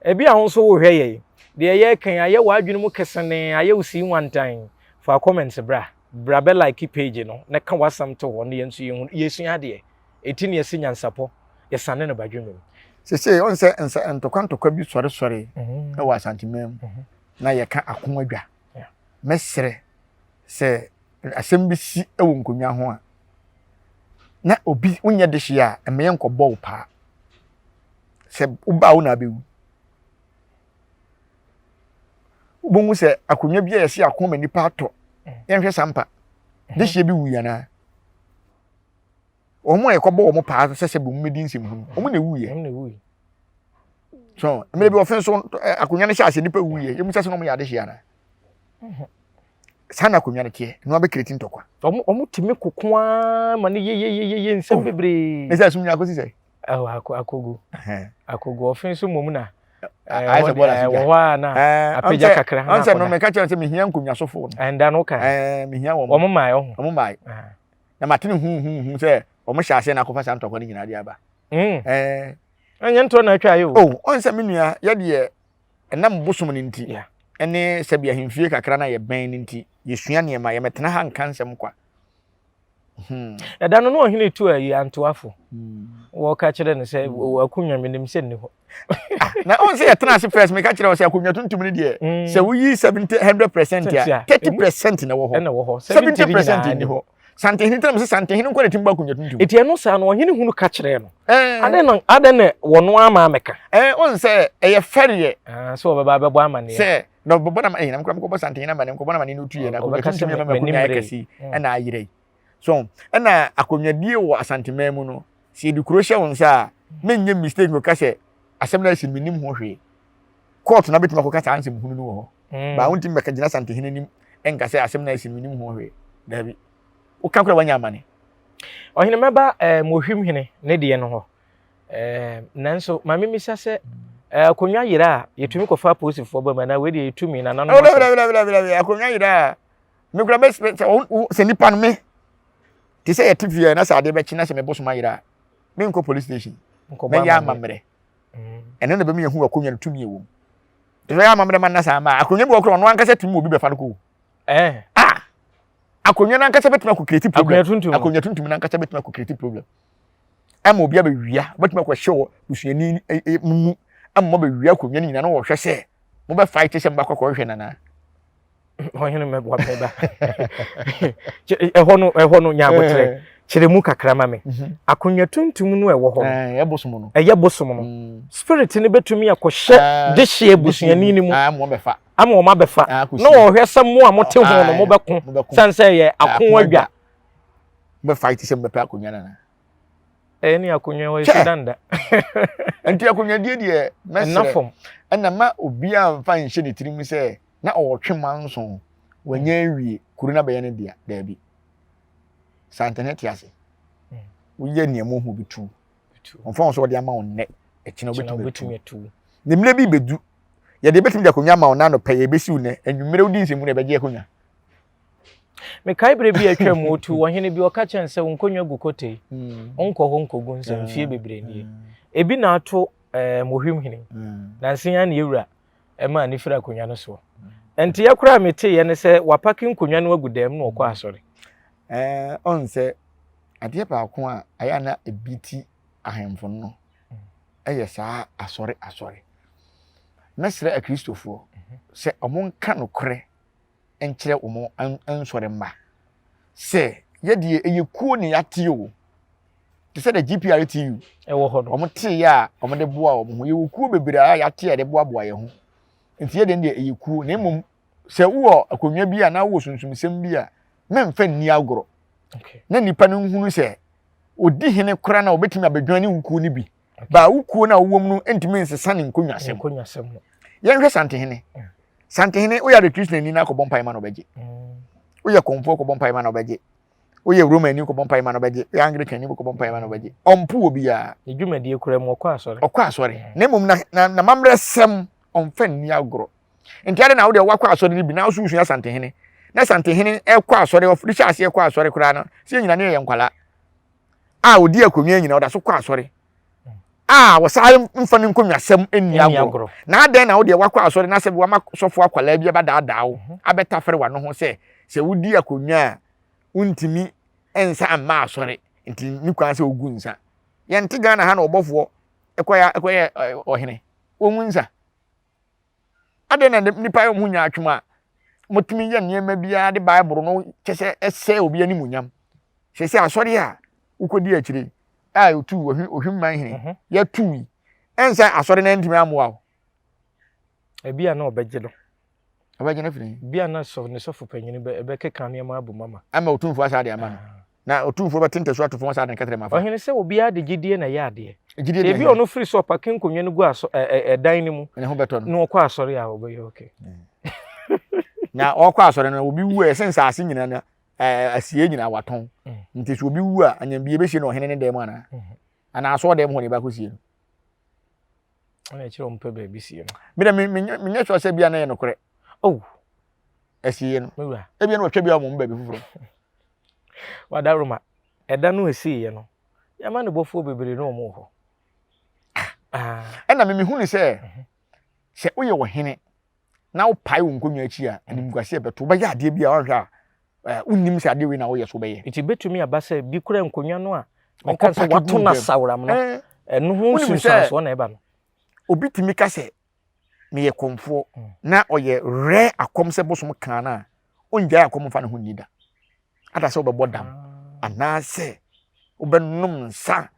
Ebi a wo nso wohwɛ yɛn. Deɛ yɛreka yi, ayɛ w'adwene mu kesenee, ayɛ wo sii nwantan. Fa comments bra. Bra bɛ like page no na ka w'asɛm to hɔ na yɛn nso yɛnhu. Yɛresua adeɛ. Eti na yɛse nyansapɔ, yɛsane no badwemma mu. Sesei ɔn sɛ nsɛ ntɔkwa ntɔkwa bi sɔre sɔre wɔ Asanteman mu na yɛka ako adwa. Mɛsrɛ sɛ asɛm bi si wɔ nkonnwa ho a na obi wonyɛ dehye a ɛmɛ yɛn kɔ bɔ wo paa. Sɛ wo ba a wo na abɛwu. wobɛhu sɛ akonnwa bi a yɛsi akoma nipa atɔ yɛnhwɛ sampa dehyeɛ bi wui anaa wɔn a yɛkɔbɔ wɔn paa sɛ sɛ bɛmu bɛdi nsɛmhunu wɔn na ɛwuiɛ so mmerɛ bi wɔfɛn so akonnwa no hyɛ ase nipa wuiɛ yɛmu sɛ sɛ na wɔyɛ adehyeɛ anaa saa na akonnwa no teɛ na wabɛkreti ntɔkwa wɔn tumi koko ara ma no yeyeyeye nsɛm bebree ne sɛ asomdwa akɔsi sɛ Ɛhɔ ako akogu akogu ɔfe nso mmom na ayɛ sɛ bɔɔl ase gya wɔ hɔ a na apagya kakra na akɔda ɔnsɛ no meka kyerɛ sɛ mehia nkonnwasofo no ɛnda no ka ɛɛ mehia wɔn wɔn mmae ɔho wɔn mmae na matene hu hu hu sɛ wɔn hyɛ aseɛ na akɔfa saa ntɔkwa no nyinaa de aba ɛɛ ɛnyɛ ntorɔ na atwa ayɛ o oh, ɔnsɛ me nua yɛdeɛ ɛnam bosom no nti ɛne sɛbi ahemfie kakra na yɛbɛn no nti yɛsua nneɛma yɛmɛtena ha nka nsɛm kwa Hmm. ɛda no na ɔhene tu ayi antoafo hmm. wɔka kyerɛ no sɛ hmm. akonnwa menim sɛ nni hɔ ah, na ɔn sɛ yɛtena ase first meka kyerɛ wo sɛ akonnwa tuntum no deɛ sɛ woyi 700 percent a 30 percent na wɔ hɔ 70 percent nni hɔ santehene tena mu sɛ santehene nkɔ ne tim ba akonnwa tuntum ɛti ɛno saa no ɔhene hunu ka kyerɛ no adɛn na adɛn na wɔno ama mɛka ɔn sɛ ɛyɛ fɛreɛ ah, sɛ wɔbɛba bɛbɔ amanneɛ sɛ na ɔbɛbɔ na ɛyɛ na mekura mekɔbɔ santen na ma ne nkɔbɔ na ma ne no tu yɛ na akonnwa tuntum yɛ ma akonnwa yɛ kɛse mm. ɛna ayerɛ yi so ɛna akonnwadie wɔ asanteman mu no sɛ yɛde kuro hyɛ wo nsa a menyɛ mistake no ka sɛ asɛm no ayɛ menim ho hwee court na bɛtumi akɔka saa nsɛm hunu no wɔ hɔ mm. baa wontumi bɛka gyina santehene anim ɛnka sɛ asɛm no ayɛ menim ho hwee daabi woka kora wanya amane ɔhene mɛba eh, mohwim hene ne deɛ no hɔ Ɛɛ nanso maame misa sɛ eh, akonnwa yera a yɛtumi kɔfa apolisifoɔ ba mu anaa wei deɛ yɛtumi na nanom asɛm. akonnwa yera a mekura bɛ sɛ nipa no me te sɛ yɛte fie na sɛ adeɛ bɛkye na sɛ mebɔ soma yera a menkɔ police station mɛyɛ amammerɛ mm. ɛno na bɛmi yɛhu akonnwa no tumi ɛwɔ mu te sɛ yɛ amammerɛ ma nna saa ma akonnwa bi wɔ korɔ ɔno ankasa tumi obi bɛfa no kɔ eh. ah akonnwa no ankasa bɛtumi akɔ creative problem akonnwa tuntum no ankasa bɛtumi akɔ creative problem ɛma obi abɛwia wobɛtumi akɔhyɛ wɔ busuani eh, eh, mu ɛma mabɛwia akonnwa no nyinaa na wɔhwɛ sɛ mobɛfae te sɛ mobakɔ kɔhwehwɛ nanaa ɔhene mɛboa mɛba ɛhɔ no ɛhɔ no nya abotrɛ eh. kyerɛ mu kakra ma me mhm. akonnwa tuntum no ɛwɔ hɔ no eh, ɛyɛ bosom no ɛyɛ bosom no mm. spirit no bɛtumi akɔhyɛ ah, de hyɛ abusuani no mu ah, ama wɔn abɛfa ah, na wɔhwɛ sɛ mo a mote ho no mobɛko sane sɛ yɛ ako adwa bɛ fight sɛ mbɛpɛ akonnwa no anaa ɛyɛ ne akonnwa hɔ ɛsi danda nti akonnwa die deɛ mɛsrɛ ɛna ma obi a mfa nhyɛ ne tirim sɛ na ɔwɔtwe ma nson wanya awie kuro no abɛyɛ ne dea daabi saa ntɛnɛ te ase hmm. woyɛ nea mu ho bi tu ɔmfa wɔn sɛ wɔde ama wɔn nnɛ ɛkyina wobɛtumi atu ne mmerɛ bi bɛdu yɛde bɛtumi de akonnwa ama wɔn nanopɛ yɛbɛsiw nnɛ anwummerɛ wodi nsɛmu na ɛbɛgye akonnwa Mekae berɛ bi a atwa mu otu ɔhene bi ɔka kyɛn sɛ wo nkonnwa gu kotei, mm. wonkɔ hɔ nkɔgu nsɛ ah, mfie bebree nie. Mm. Ebi na ato eh, mohwim hene, mm. nansen a ne yɛwura ɛma ne firi akonnwa no soɔ. Nti yɛ koraa meteeɛ ne sɛ wapake nkonnwa no agu dɛm na ɔkɔ asɔre. Eh, ɔn sɛ adeɛ baako a ɛyɛ na ebi ti ahemfo no ɛyɛ saa asɔre asɔre. Mɛsrɛ akristofoɔ mhm. sɛ wɔn nka nokorɛ nkyerɛ wɔn nsɔre mma sɛ yɛ deɛ ɛyɛ kuo na yɛate o te sɛ the GPRTU ɛwɔ hɔ no wɔn te yɛ a wɔn de boa wɔn ho yɛwɔ kuo bebree a yɛate a yɛde boaboa yɛn ho nti yɛ deɛ deɛ ɛyɛ kuo na mmom sɛ wowɔ akonnwa bi a na wowɔ sunsumsɛm bi a mɛmfa nni agorɔ na nipa no nhunu sɛ ɔdi hene kora na ɔbɛtumi abɛdwan ne wo kuo no bi baa wo kuo no a wowɔ mu no ntumi nsesa ne nkonnwasɛm nkonnwasɛm no yɛnhwɛ santehene mm. santehene woyɛ adetrisnani no akɔbɔ mpae ma na ɔbɛgye mm. woyɛ kɔmfoɔ kɔbɔ mpae ma na ɔbɛgye woyɛ roma ani kɔbɔ mpae ma na ɔbɛgye woyɛ anglican ani kɔbɔ mpae ma na ɔbɛgye ɔmpo wɔ biara ne dwumadie kura mu ɔkɔ asɔre ɔkɔ asɔre mm. na mmom na na mammerɛ sɛm ɔmfa nni agorɔ nti ade na wode wakɔ asɔre no bi na woso wosua santehene na santehene ɛkɔ asɔre ɔfiri hyɛ aseɛ kɔ asɔre koraa no sɛ yɛnyina ne yɛyɛ nkwalaa a ɔdi akonnwa nyinaa ɔda so kɔ asɔre a wɔsan mfa ne nkonnwasɛm nni agorɔ na adɛn na wodeɛ wakɔ asɔre na sɛ wama sɔfo akwalaa bi abɛdaadaa wo mhm. abɛtafere wano ho sɛ sɛ wodi akonnwa a wontumi nsa mma asɔre nti ne kwan sɛ wogu nsa yɛnte ghana ha na ɔbɔfoɔ ɛkɔyɛ ɔhene wɔngu nsa Adɛn na nnipa yɛ wɔn ho nyaatwom a wɔtumi yɛ nneɛma biara de Bible no kyɛ sɛ ɛsɛe obi animuonyam? Seesei asɔre a wokɔdi akyire a yɛtu ohwimman hene mhm. yɛtu yi, ɛnsɛ asɔre no ntumi ammoa wo. Ebi a na ɔbɛgye no. Ɔbɛgye no firi. Ebi a na sɔ ne sɔfo panyin bɛkeka nneɛma abom ama. Ama otumfoɔ asa de ama no. Ah. Na otumfoɔ bɛte ntasu ato fam asaa ne kɛtɛrɛ mu afa. Ɔhene sɛ obiara de gyedie na ɛyɛ adeɛ. Gyedie deɛ Ebi a ɔno firi so ɔpake nkonnwa no gu asɔ ɛ ɛ ɛdan no mu. Ne ho bɛtɔ no. Na ɔkɔ asɔre a ɔbɛyɛ okay. Na ɔkɔ asɔre no obi wu a ɛsɛ nsaase nyinaa na asie nyinaa watɔn. Mm. Nti so obi wu a anyambie bɛsie no ɔhene ne dan mu anaa? Mm-hmm. Anaa asɔɔ dan mu hɔ ne ɛbɛakɔ sie no. Ɛna ɛkyerɛ ɔmpɛ baabi sie no. Mede menyɛ sure sɛ bia na ɛyɛ nokorɛ. Oh. ɛsiiɛ no ebia na wɔtwa bi a wɔn baabi foforɔ wadaroma ɛda no ɛsiiɛ no yɛma ne bɔfoɔ bebree ne wɔn wɔ hɔ ɛna ah. memehu ne sɛ mhm. sɛ woyɛ ɔhene na wopae wo nkonnwa akyi a animguaseɛ bɛto wobɛyɛ adeɛ bi a woanhwɛ a eh, wonnim sɛ adeɛ wei na woyɛ so wobɛyɛ nti bɛtumi aba sɛ bi kora nkonnwa no a ɔka sɛ wato no asaworam no eh. ɛno ho nsunsuansoɔ na ɛba no obi tumi ka sɛ no yɛ kɔmfoɔ na ɔyɛ rare akɔm sɛ bosom kaa no a ɔngyae akɔm mfa ne ho nni da ada sɛ wobɛbɔ dam anaasɛ wobɛnom nsa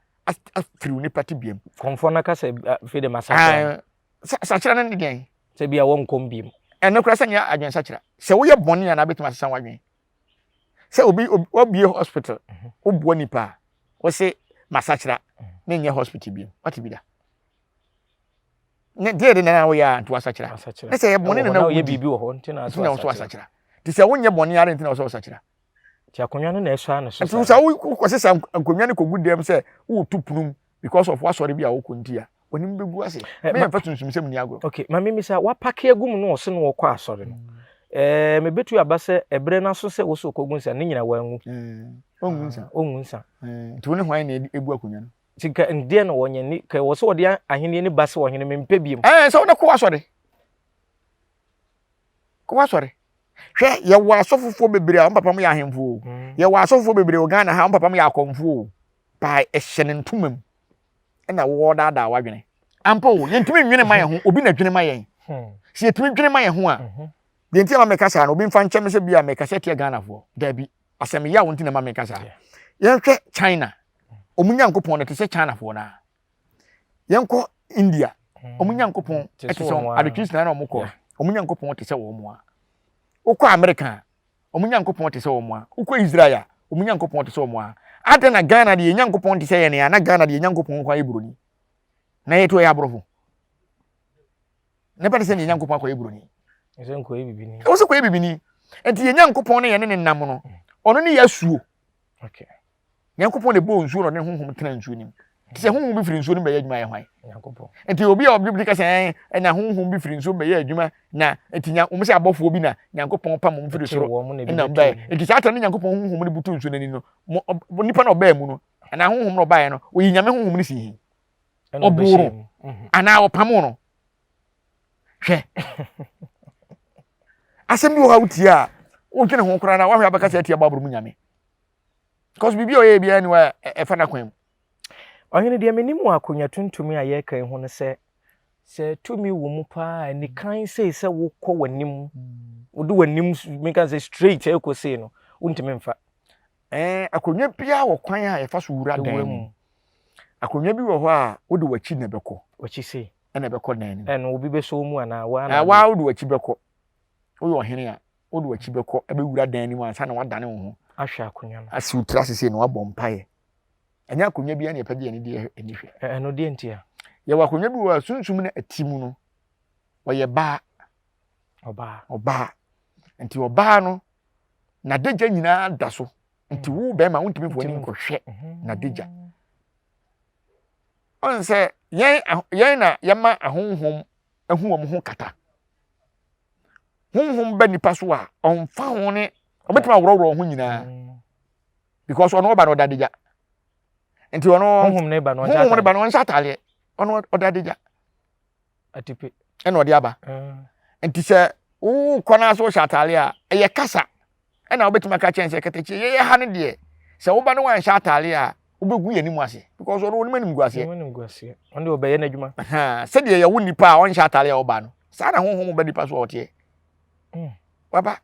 afiri wo nipa te biam kɔmfoɔ no ka sɛ afei de masakyerɛ sakyerɛ no ne deɛn sɛ bia wɔnkɔm biam ɛno kora sɛ nyɛ adwene sakyerɛ sɛ woyɛ bɔne a na wobɛtumi asesa w'adwene sɛ obi wabie hospital mhm. woboa nipa a wɔse masakyera ne nyɛ hospital biam wate bi da ne deɛ de nana woyɛ a nti wasakyera ne sɛ yɛ bɔne nana woyɛ biribi wɔ hɔ nti na wosɛ wasakyera nti sɛ wonyɛ bɔne ara nti na wosɛ wasakyera nti akonnwa no na ɛsɔ ano so nti sɛ wokɔsesa nkonnwa no kɔgu dɛm sɛ woreto punum because of wasɔre bi a wokɔ nti a w'anim bɛgu ase eh, mɛyɛ mfa sunsumsɛm ni agorɔ okay ma me misa wapake agu mu no ɔse no wɔkɔ asɔre no mm. eh, mebɛtu aba sɛ ɛberɛ no aso sɛ wo sɛ ɔkɔgu nsa ne nyina wanwu mm. ɔnwu nsa ah, ɔnwu nsa eh, nti wo ne hwan na ɛbu akonnwa no Nti nka ɛndeɛ na wɔnyɛ ni ka wɔ sɛ wɔde ahenni ne ba se wɔ hene mempɛ biom. Ɛɛ sɛ wode kɔ w'asɔre kɔ w'asɔre hwɛ yɛwɔ asɔfofoɔ bebree a wɔn papa mu yɛ ahemfo o mm. yɛwɔ asɔfofoɔ bebree wɔ Ghana ha wɔn papa mu yɛ akɔmfo o paa ɛhyɛ ne ntoma mu ɛna wɔɔdaadaa w'adwene ampa o yɛntumi nwene ma yɛn ho obi na dwene ma yɛn hmm. sɛ yɛtumi dwene ma yɛn ho a mhm. deɛ nti a ma mɛka saa no obi mfa nkyɛn me sɛ bi a mɛka sɛ teɛ Ghanafoɔ daabi asɛm yaw nti na ma meka saa yɛnhwɛ china ɔmo nyankopɔn no te sɛ chinafoɔ no a yɛnkɔ india hmm. ɔmo nyankopɔn te sɛ adetwe sinaa na ɔmo kɔ ɔmo nyankopɔn te sɛ wɔn mu a wokɔ amerika a ɔmo nyankopɔn te sɛ wɔn mu a wokɔ israel a ɔmo nyankopɔn te sɛ wɔn a adɛn na ghana deɛ nyankopɔn te sɛ yɛn a na ghana deɛ nyankopɔn kɔ ayɛ buroni na yɛto yɛ aborɔfo na ɛbɛte sɛ deɛ nyankopɔn akɔyɛ buroni ɛsɛ nkɔyɛ bibini ɛwɔ sɛ kɔyɛ bibini nti yɛ nyankopɔn ne yɛne ne nam no mm. ɔno ne yɛ asuo nyankopɔn na ɛbɔɔ nsuo na ɔne honhom tena nsuo nim nti sɛ honhom bi firi nsuo no bɛyɛ adwuma yɛ hwan nti obi a ɔbɛbi ka sɛ ɛna honhom bi firi nsuo bɛyɛ adwuma na nti nya wɔn sɛ abɔfoɔ bi na nyankopɔn pam wɔn firi soro ɛna bɛyɛ nti saa tɛm ne nyankopɔn honhom no butu nsuo n'ani no nipa na ɔbɛɛ mu no ɛna honhom na ɔbaeɛ no oyi nyame honhom no si hin ɔboo no anaa ɔpamoo no hwɛ asɛm bi wɔ hɔ a wotie a wodwene ho koraa na woahwɛ abɛka sɛ atia bible mu nyame because biribi a ɔyɛ biara ni wa ɛfa no akwan mu ɔhene deɛ menim wɔ akonnwa tuntumi a yɛreka yi ho no sɛ sɛ tumi wɔ mu paa a nikan sei sɛ wokɔ w'anim wode w'anim meka sɛ straight ɛkɔ sei no wontumi mfa Ɛɛ, akonnwa biara wɔ kwan a yɛfa so wura dan mu. Akonnwa bi wɔ hɔ a, wode w'akyi na ɛbɛkɔ. W'akyi sei. Ɛna ɛbɛkɔ dan no mu. Ɛno obi bɛsɔ wo mu anaa wo ara na. Ɛɛ, wo ara wode w'akyi bɛkɔ. Woyɛ ɔhene a, wode w'akyi bɛkɔ bɛwura dan no mu ansa na woadane wo ho. Ahwɛ akonnwa no. Asi wo tiri ase sei na woabɔ mpaeɛ. Ɛnyɛ akonnwa biara na yɛpɛ gye yɛn deɛ ani hwɛ. Ɛno deɛ nti a. Yɛwɔ akonnwa bi wɔ hɔ a, sunsum na ɛte mu no, ɔyɛ baa. Ɔbaa. Ɔbaa. Nti ɔbaa no, n'adagya nyinaa da so nti wo bɛrima wontumi mfo ani nkɔhwɛ n'adagya ɔn sɛ yɛn yɛn na yɛma ahonhom ahu wɔn ho kata honhom ba nipa so a ɔnfa ho ne ɔbɛtumi aworɔworɔ ho nyinaa because ɔno ɔba na ɔda adagya nti ɔno honhom ne ba na ɔnhyɛ ataadeɛ ɔno ɔda adagya atipe ɛna ɔde aba nti sɛ wokɔ no a sɛ wohyɛ ataare a ɛyɛ kasa ɛna wobɛtumi aka kyɛn sɛ katakyie yɛyɛ ha no deɛ sɛ woba no wanhyɛ ataare a wobɛgu yɛ anim ase because ɔno wɔn anim gu aseɛ ɔno ɔbɛyɛ n'adwuma sɛdeɛ yɛwo nipa a ɔnhyɛ ataare a ɔba no saa na honhom ba nipa so a ɔteɛ hmm. waba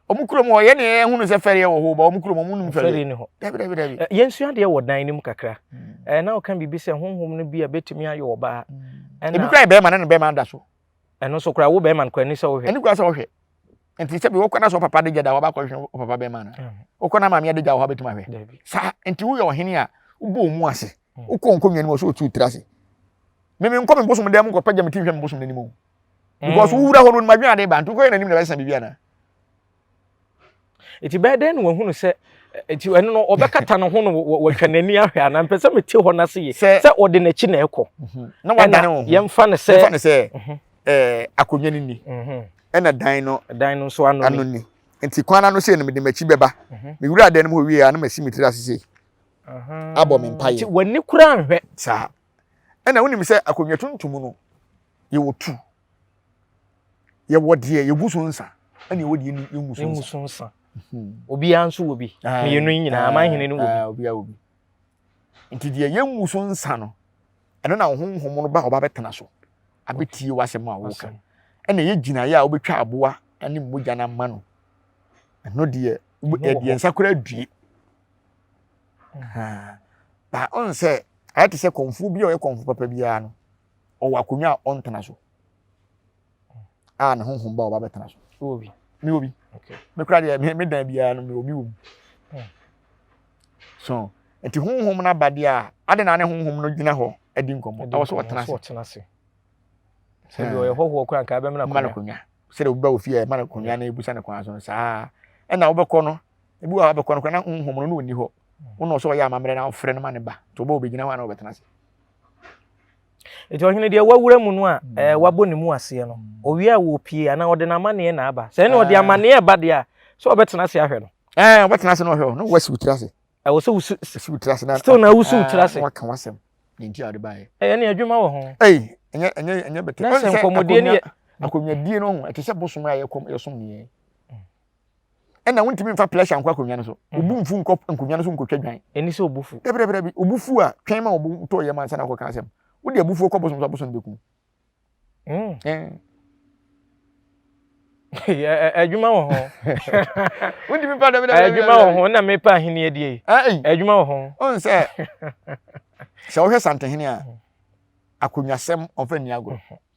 wɔn kurom hɔ yɛn deɛ yɛhunu sɛ fɛreɛ wɔ hɔ ba wɔn kurom wɔn num fɛreɛ ni hɔ dabi dabi dabi. Eh, yɛn sua deɛ wɔ dan no mu kakra hmm. eh, na ɔka biribi sɛ honhom no bi a betumi ayɛ ɔbaa. Hmm. ebi kura yɛ bɛrima na ne bɛrima da so. ɛno nso kura wo bɛrima no kura ni sɛ ɔhwɛ. ɛni kura sɛ ɔhwɛ nti sɛbi wokɔ na sɛ ɔpapa de gya da hɔ abakɔ hwɛ ɔpapa bɛrima no hmm. wokɔ na maame de gya wɔ hɔ abɛtumi ahwɛ saa nti woyɛ ɔhene a wobɔ ɔmu ase wokɔ nkonnwa no mu ɔsɛ ɔtu tiri ase meme nkɔ me bosom dan mu nkɔpɛ gya me ti hwɛ me bosom no anim o because mm. wowura hɔ no madwene ade ba nti wokɔyɛ n'anim na bɛsesa biribi anaa nti bɛyɛ dɛn na wahunu sɛ eh, nti ɛno no ɔbɛkata ne ho no wɔtwa n'ani ahwɛ anaa mpɛ sɛ mete hɔ no ase ye sɛ ɔde n'akyi na ɛkɔ mhm. na wadane wo ho yɛmfa no sɛ yɛmfa no sɛ mhm. eh, akonnwa no ni mhm. ɛna dan no dan no nso ano ni nti kwan ano sɛ no mede m'akyi bɛba mewura dan no mu hɔ wie a na masi me tiri ase sei abɔ me mpaeɛ nti w'ani kora nhwɛ saa ɛna wonim sɛ akonnwa tuntum no yɛwɔ tu yɛwɔ deɛ yɛgu so nsa ɛna yɛwɔ deɛ yɛngu so nsa so nsa hmm. obiara nso wɔ bi mmienu yi nyinaa amanhene no wɔ bi obiara wɔ bi nti deɛ yɛngu so nsa no ɛno na honhom no ba ɔba bɛtena so abɛtie w'asɛm a woka ɛna yɛ gyinaeɛ a wobɛtwa aboa ne mogya no ama no ɛno deɛ yɛde nsa kora adue ba ɔn sɛ ayɛ te sɛ kɔnfuo bi a ɔyɛ kɔnfuo papa biara no ɔwɔ akonnwa a ɔntena so a ne honhom ba ɔba bɛtena so wɔ bi me wɔ bi me kora deɛ me dan biara no me wɔ bi wɔ mu so nti honhom no aba deɛ a ade na ne honhom no gyina hɔ adi nkɔmmɔ ɛwɔ so ɔtena ase sɛ deɛ ɔyɛ hɔhoɔ kora nka bɛmena akonnwa sɛ deɛ wobɛ wɔ fie a ɛma no akonnwa na ɛbusa no kwan so no saa ɛna wobɛkɔ no ebi wɔ hɔ abɛkɔ no kora na honhom no na ɔnni hɔ wo na ɔsɛ ɔyɛ amammerɛ na ɔfrɛ no ma ne ba nti ɔbɛ ɔbɛgyina hɔ a na ɔbɛtena ase nti ɔhene deɛ wawura mu no a mm. ɛɛ wabɔ ne mu aseɛ no mm. owia a wɔpie anaa ɔde n'amanneɛ na aba sɛ ɛne ɔde ah. amanneɛ ba deɛ a sɛ ɔbɛtena ase ahwɛ no ɛɛ eh, ɔbɛtena ase na ɔhwɛ o na wɔasi wotiri ase ɛwɔ sɛ wosi si wotiri ase na still na wosi wotiri ah, ase na waka wasɛm ne nti a ɔde baayɛ ɛyɛ ne adwuma wɔ ho ɛyi ɛnyɛ ɛnyɛ ɛnyɛ bɛtɛ na sɛ nkɔmɔdie ne yɛ akonnwadie no ho ɛte sɛ bosom a yɛkɔm yɛsom ne yɛn ɛna wontumi mfa plɛsha nkɔ akonnwa no so mm. obu mfu nkɔ nkonnwa no so nkɔtwa dwan ɛni sɛ obu fu dabrɛbrɛ bi obu fu a twɛn ma obu tɔ yɛ ma nsa na akɔka asɛm wode abufuo kɔ bosom so abosom bɛku mm. adwuma wɔ ho wontumi mfa dabrɛbrɛ adwuma wɔ ho na mepa ahene adie adwuma wɔ ho ɔn sɛ sɛ wohwɛ santehene a mm. akonnwasɛm ɔmfa nni agorɔ mm-hmm.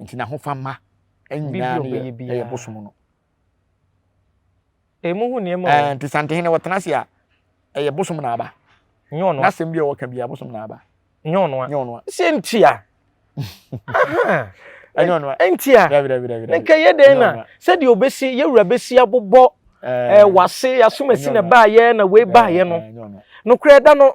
Nti n'ahofama nyinaa no yɛ ɛyɛ bosom no. Emu ho nneɛma o. Ɛɛ nti Santehene wɔtena ase a ɛyɛ bosom na aba. Nyɛ ɔnoa. N'asɛm bi a wɔka bi a bosom na aba. Nyɛ ɔnoa. Nyɛ ɔnoa. Sɛ ntia. Ɛnyɛ ɔnoa. Ntia. Dabi dabi dabi. Ne nka yɛ dɛn na sɛdeɛ obesi yɛ wura besi abobɔ ɛɛ wase asomasi na baayɛ na wei baayɛ no. Nokorɛ da no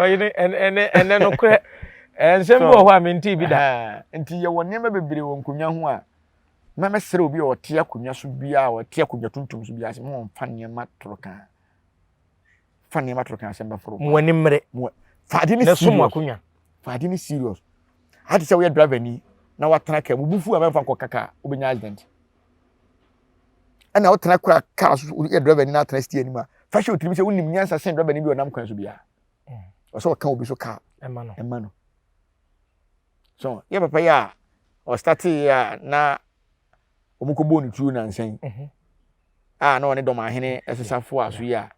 ɔyi ne ɛnɛ ɛnɛ no korɛ nsɛm bi wɔ hɔ a mente bi da nti yɛwɔ nneɛma bebree wɔ nkonnwa ho a na mɛsrɛ obi a ɔte akonnwa so biara a ɔte akonnwa tuntum so biara sɛ mo mfa nneɛma toro kan fa nneɛma toro kan asɛm bɛforo mo ani mmere fa ade ne serious fa ade ne serious ade sɛ woyɛ driver ni na watena kaa mu bufu a mɛmfa nkɔ kaka wobɛnya accident ɛna wotena kora kaa so woyɛ drɛvani na atena stia anim a fa hyɛ wotirim sɛ wonim nyansa sen drɛvani bi ɔnam kwan so biara ɔsɛ mm. ɔka obi so kaa ɛma no so yɛ papa yi a ɔstatee a na wɔkɔbɔɔ ne tuo nansa yi mhm. a na ɔne dɔmahene ɛsesafo a so yi a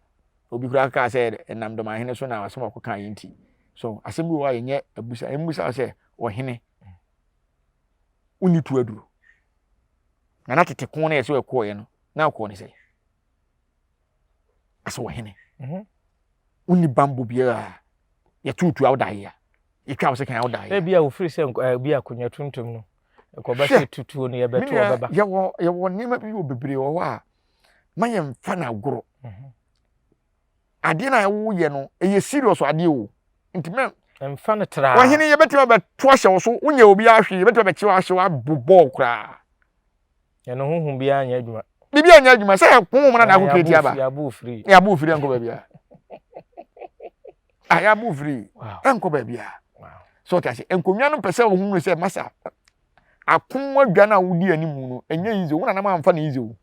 obi koraa kaa sɛ ɛnam dɔmahene so na asɛm a ɔkɔkaa yɛ nti so asɛm bi wɔ hɔ a yɛnyɛ abusa ɛmmusa sɛ ɔhene wonni to aduro Na na tete ko no yɛ sɛ ɛkɔɔeɛ no na ɔkɔɔ ne sɛ asɛ ɔhene mhm. wonni bambɔ biara yɛtuotu a wodaeɛ a yɛtwa wo sɛ kan a wodaeɛ ebi a wofiri sɛ eh, bi akonnwa tuntum no ɛkɔba sɛ tutuo no yɛbɛto ɔbɛba yɛwɔ nneɛma bi wɔ bebree wɔ hɔ a ma yɛmfa no agorɔ mhm. adeɛ no a woyɛ no ɛyɛ serious adeɛ o nti mɛ mfa no tra ɔhene yɛbɛtumi abɛto ahyɛ wo so wonyɛ obiara hwee yɛbɛtumi abɛkye wo ahyew abɔ bɔɔl koraa ɛno honhom biara nyɛ adwuma biribi anyɛ adwuma sɛ honhom no na ako kreti aba ne abo firi ɛnkɔ baabi a ayɛ abo firi ɛnkɔ baabi a so ɔte ase nkonnwa no pɛ sɛ ohun sɛ masa akon adwa no a wodi anim no ɛnyɛ yize wo nanam amfa ne yize o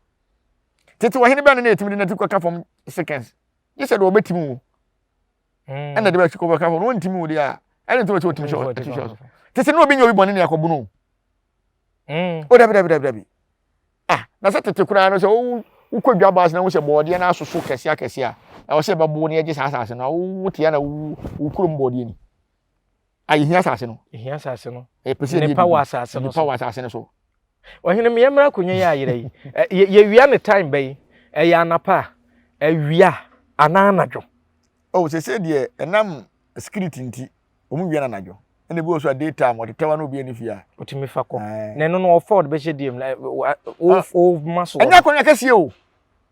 tete ɔhene bɛn na yɛtumi de n'ati kɔka fam seconds gye sɛ deɛ ɔbɛtumi wo hmm. ɛna de bɛsi kɔkɔka fam no ɔntumi wo deɛ a ɛne nti wɔkyɛ ɔtumi hyɛ ɔti hyɛ ɔso te sɛ ne obi nyɛ obi bɔne ne akɔbo no hmm. o dabi dabi dabi dabi ah na sɛ tete koraa no sɛ wowu wokɔ dwa baase na wohyɛ bɔɔdeɛ no asoso kɛse akɛse a ɛwɔ sɛ ɛbɛbo ne ɛgye saa asase no woteɛ na wo kurom bɔɔdeɛ ni A yɛhia asase no. Yɛhia asase no. Yɛpɛ sɛ nnipa wɔ asase no so. Nnipa wɔ asase no so. Ɔhene mmea mmara akonnwa yɛ ayera yi. Yɛwia ne time bɛyi. Ɛyɛ anapa a, awia anaa anadwo. Oh, sɛ sɛ deɛ ɛnam security nti, wɔn wia no anadwo. Ɛna ebi wɔ so a day time, ɔtetɛwa na obi ani fia. Otumi fa kɔ. Na ɛno no ɔfa ɔde bɛhyɛ diem. Ɔma so. Ɛnyɛ akonnwa kɛseɛ o.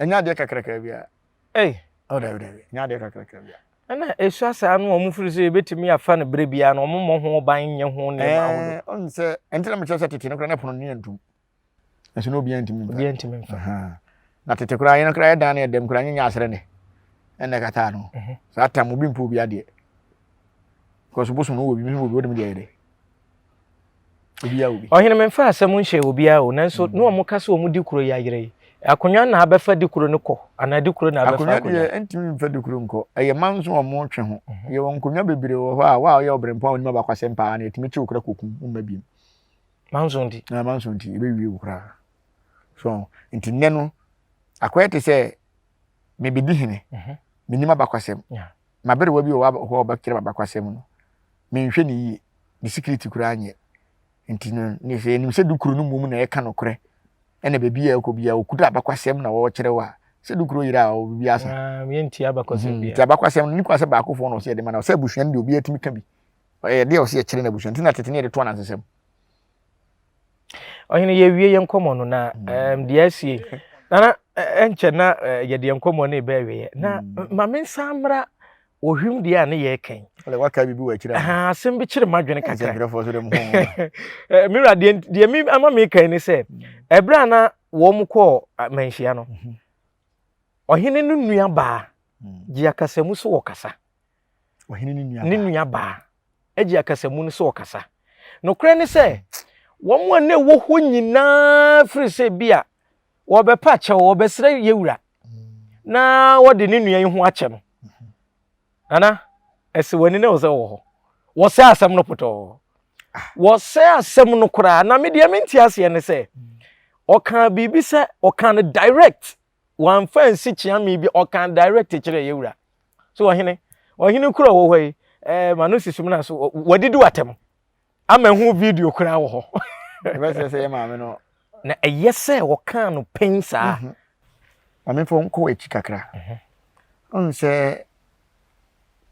Ɛnyɛ adeɛ kakrakaa biara. Ei! Oh, dabi, dabi. Ɛnyɛ adeɛ kakrakaa biara. Ɛna ɛsua saa no a wɔfiri sɛ yɛbɛtumi afa no berɛ biara no wɔmmɔ ho ban nyɛ ho nneɛma ahodoɔ. Ɛɛ, ɔn sɛ, ɛnti na mekyerɛ sɛ tete no koraa na pono no yɛ ntom. Ɛso na obiara ntumi mfa. Obiara ntumi mfa. Na tete koraa yɛn koraa yɛdan no yɛ dɛm koraa nyɛ nyɛ asrɛ ne. Ɛna ɛkataa no. Mhm. Saa tam obi mpo obi adeɛ. Because bosom no wɔ bi, bi wɔ bi, wɔ dem deɛ yɛ dɛ. obiara obi. ɔhene memfa asɛm nhyɛ obiara o nanso mm. ne wɔn ka sɛ wɔn di kuro yi ayerɛ yi akonnwa na abɛfa di kuro no kɔ anaa di kuro na abɛfa akonnwa deɛ ntumi mfa di kuro nkɔ ɛyɛ man nso wɔn twe ho mhm. yɛwɔ nkonnwa bebree wɔ hɔ a wa ɔyɛ ɔbrɛmpa a onim abakwasɛm paa na ɛtumi kyew kora kokum mma biem manso nti na manso nti ɛbɛwie wo koraa so nti nnɛ no akɔyɛ te sɛ mebɛdi hene mhm. menim abakwasɛm M'aberewa bi wɔ hɔ a ɔbɛkyerɛ m'abakɔsɛm no, menhwɛ no yie, ne sikiriti koraa nyɛ. Nti no, sɛ yɛnim sɛ dukuro no mmom na ɛka nokorɛ na baabi a ɛkɔ biara ɔkuta abakɔsɛm na ɔrekyerɛw a, sɛ dukuro yera a, biribi asa. Yɛntie abakɔsɛm biara. Nti abakɔsɛm no, ne kura sɛ baakofoɔ na ɔsɛ yɛde ma, na ɔsɛ abusua no deɛ obiara tumi ka bi. Ɛyɛ adeɛ a ɔsɛ yɛkyerɛ no abusua no. Nti na tete no yɛde to anansesɛm. Ɔhene, yɛawie yɛn nkɔmmɔ no na mm. deɛ asie nana ɛnkyɛ na yɛde yɛn nkɔmmɔ no ɛbɛ awieɛ na mm. ma mensan mmra ohwim deɛ a ne yɛ kɛn waka biribi wɔ akyirɛ asɛm bi kyere m'adwene kakra mewura deɛ me ama mekɛn ne sɛ ɛberɛ mm. a na wɔn kɔɔ manhyia no mhm. ɔhene no nua baa gye akasamu so wɔ kasa ne nua baa gye akasamu no sɛ ɔkasa. Nokorɛ ne sɛ, wɔn a na ɛwɔ hɔ nyinaa firi sɛ bi a wɔbɛpa akyɛw, wɔbɛsrɛ yɛ wura na wɔde ne nua yi ho akyɛ no. Nana, ɛsɛ wɔn ani na wɔsɛ wɔ hɔ. Wɔsɛ asɛm no pɔtɔɔ. Wɔsɛ asɛm no koraa. Na me deɛ mente aseɛ ne sɛ, ɔkaa biribi sɛ, ɔkaa no direct. wɔamfa ansi kyeame bi ɔka direct kyerɛ yɛ wura so ɔhene ɔhene kura wɔ hɔ yi eh, ma no si sum no so wɔdidi w'atɛm ama ɛho video koraa wɔ hɔ ɛbɛsɛ sɛ yɛ maame no na ɛyɛ sɛ wɔkaa no pɛn saa mhm. mamefo nkɔ akyi kakra mhm. ɔhu sɛ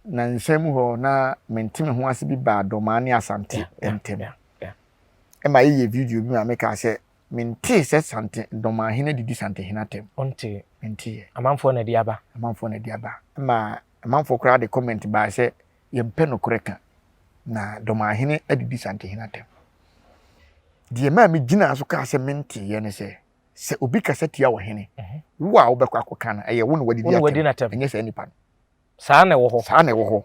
na nsɛm hɔ na mente me ho ase bi baa dɔmaa ne asante ntɛm ɛma yɛyɛ video bi ma mekaa sɛ Mentee sɛ Sante Dɔmahene de di Santehene atɛm. Wontee? Menteeɛ. Amanfoɔ na ɛde aba. Amanfoɔ na ɛde aba. Ɛma amanfoɔ koraa de comment baeɛ sɛ yɛmpɛ nokorɛ ka na Dɔmahene de di Santehene atɛm. Deɛ ɛmaa megyinaa so kaa sɛ menteeɛ ne sɛ, sɛ obi kasa tia ɔhene, wo a wobɛkɔ akɔka no, ɛyɛ wo na wode di atɛm, ɛnyɛ saa nipa no. Saa na ɛwɔ hɔ. Saa na ɛwɔ hɔ.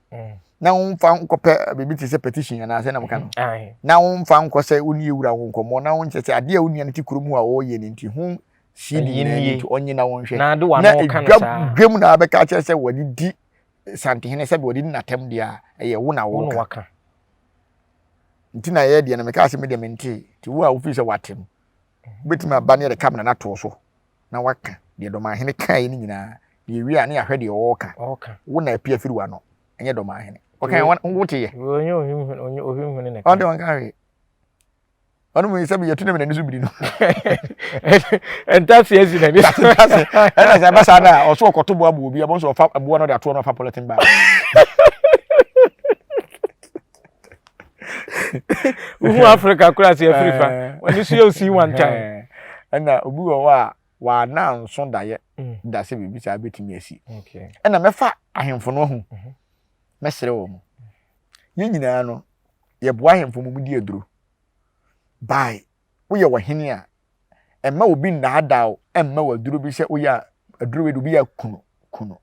mm. na womfa nkɔpɛ biribi te sɛ petition anaa sɛ nam ka no na womfa nkɔ sɛ wo ne yɛwura ho nkɔmmɔ na wonkyɛ sɛ adeɛ a wo nua no te kurom ho a ɔyɛ no nti ho sii de nyinaa nti ɔnye na wonhwɛ na dwam na abɛka akyerɛ sɛ wɔde di santehene sɛdeɛ wɔde di n'atam deɛ a ɛyɛ wo na woka nti na ɛyɛ deɛ no mekaa sɛ medeɛ mentee nti wo a wofii sɛ woate no Wobɛtumi aba na yɛde kamera no ato wo so na woaka deɛ Dɔmanhene kaeɛ no nyinaa na yɛwie a na yɛahwɛ deɛ ɔreka. Wo na apia firi w'ano, ɛnyɛ Dɔmanhene. Ɔkaeɛ wɔn woteɛ. Ɔnyɛ ohwimhene na ɛka. Ɔde ɔnka hwee. Ɔno mu sɛ biyɛ tu na n'ani so biri no. Ntase asi n'ani. Ntase. Ɛna sɛ ɛba saa na ɔso ɔkɔto boa boɔ bi, ɛbɔ nso ɔfa boɔ no de atoɔ no ɔfa pɔlɛtin baa. wohu africa koraa sɛ afiri fa eh. wɔne so yɛ osii one time eh. ɛna obi wɔ hɔ a wɔana nso daeɛ mm. da sɛ biribi saa bɛtumi asi ɛna mɛfa ahemfo no ho mhm. mɛsrɛ wɔ mu yɛn nyinaa no yɛboa ahemfo mu di aduro by woyɛ ɔhene a, mma obi nnaadaa wo mma w'aduro bi sɛ woyɛ a aduro wei de obi yɛ kunu kunu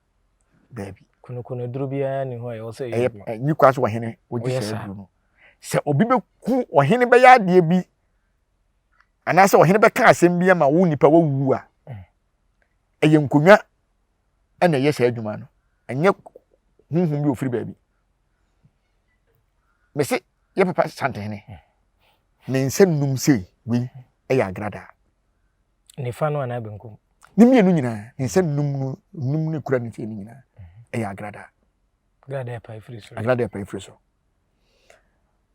daabi. kunukunu aduro biara ni hɔ a ɛwɔ sɛ ɛyɛ bi. nyi kwa so ɔhene wogye sɛ aduro no sɛ obi bɛku ɔhene bɛyɛ adeɛ bi anaasɛ ɔhene bɛka asɛm bi ama wo nipa wawu a mm. ɛyɛ nkonnwa ɛna ɛyɛ saa adwuma no ɛnyɛ honhom bi ofiri baabi mese yɛ papa santene ne nsa num sɛ wei ɛyɛ agradaa nifa no anaa benkum ne mmienu nyinaa ne nsa num no num ne kura ne fie no nyinaa ɛyɛ agradaa agradaa ɛpa efiri so agradaa ɛpa efiri so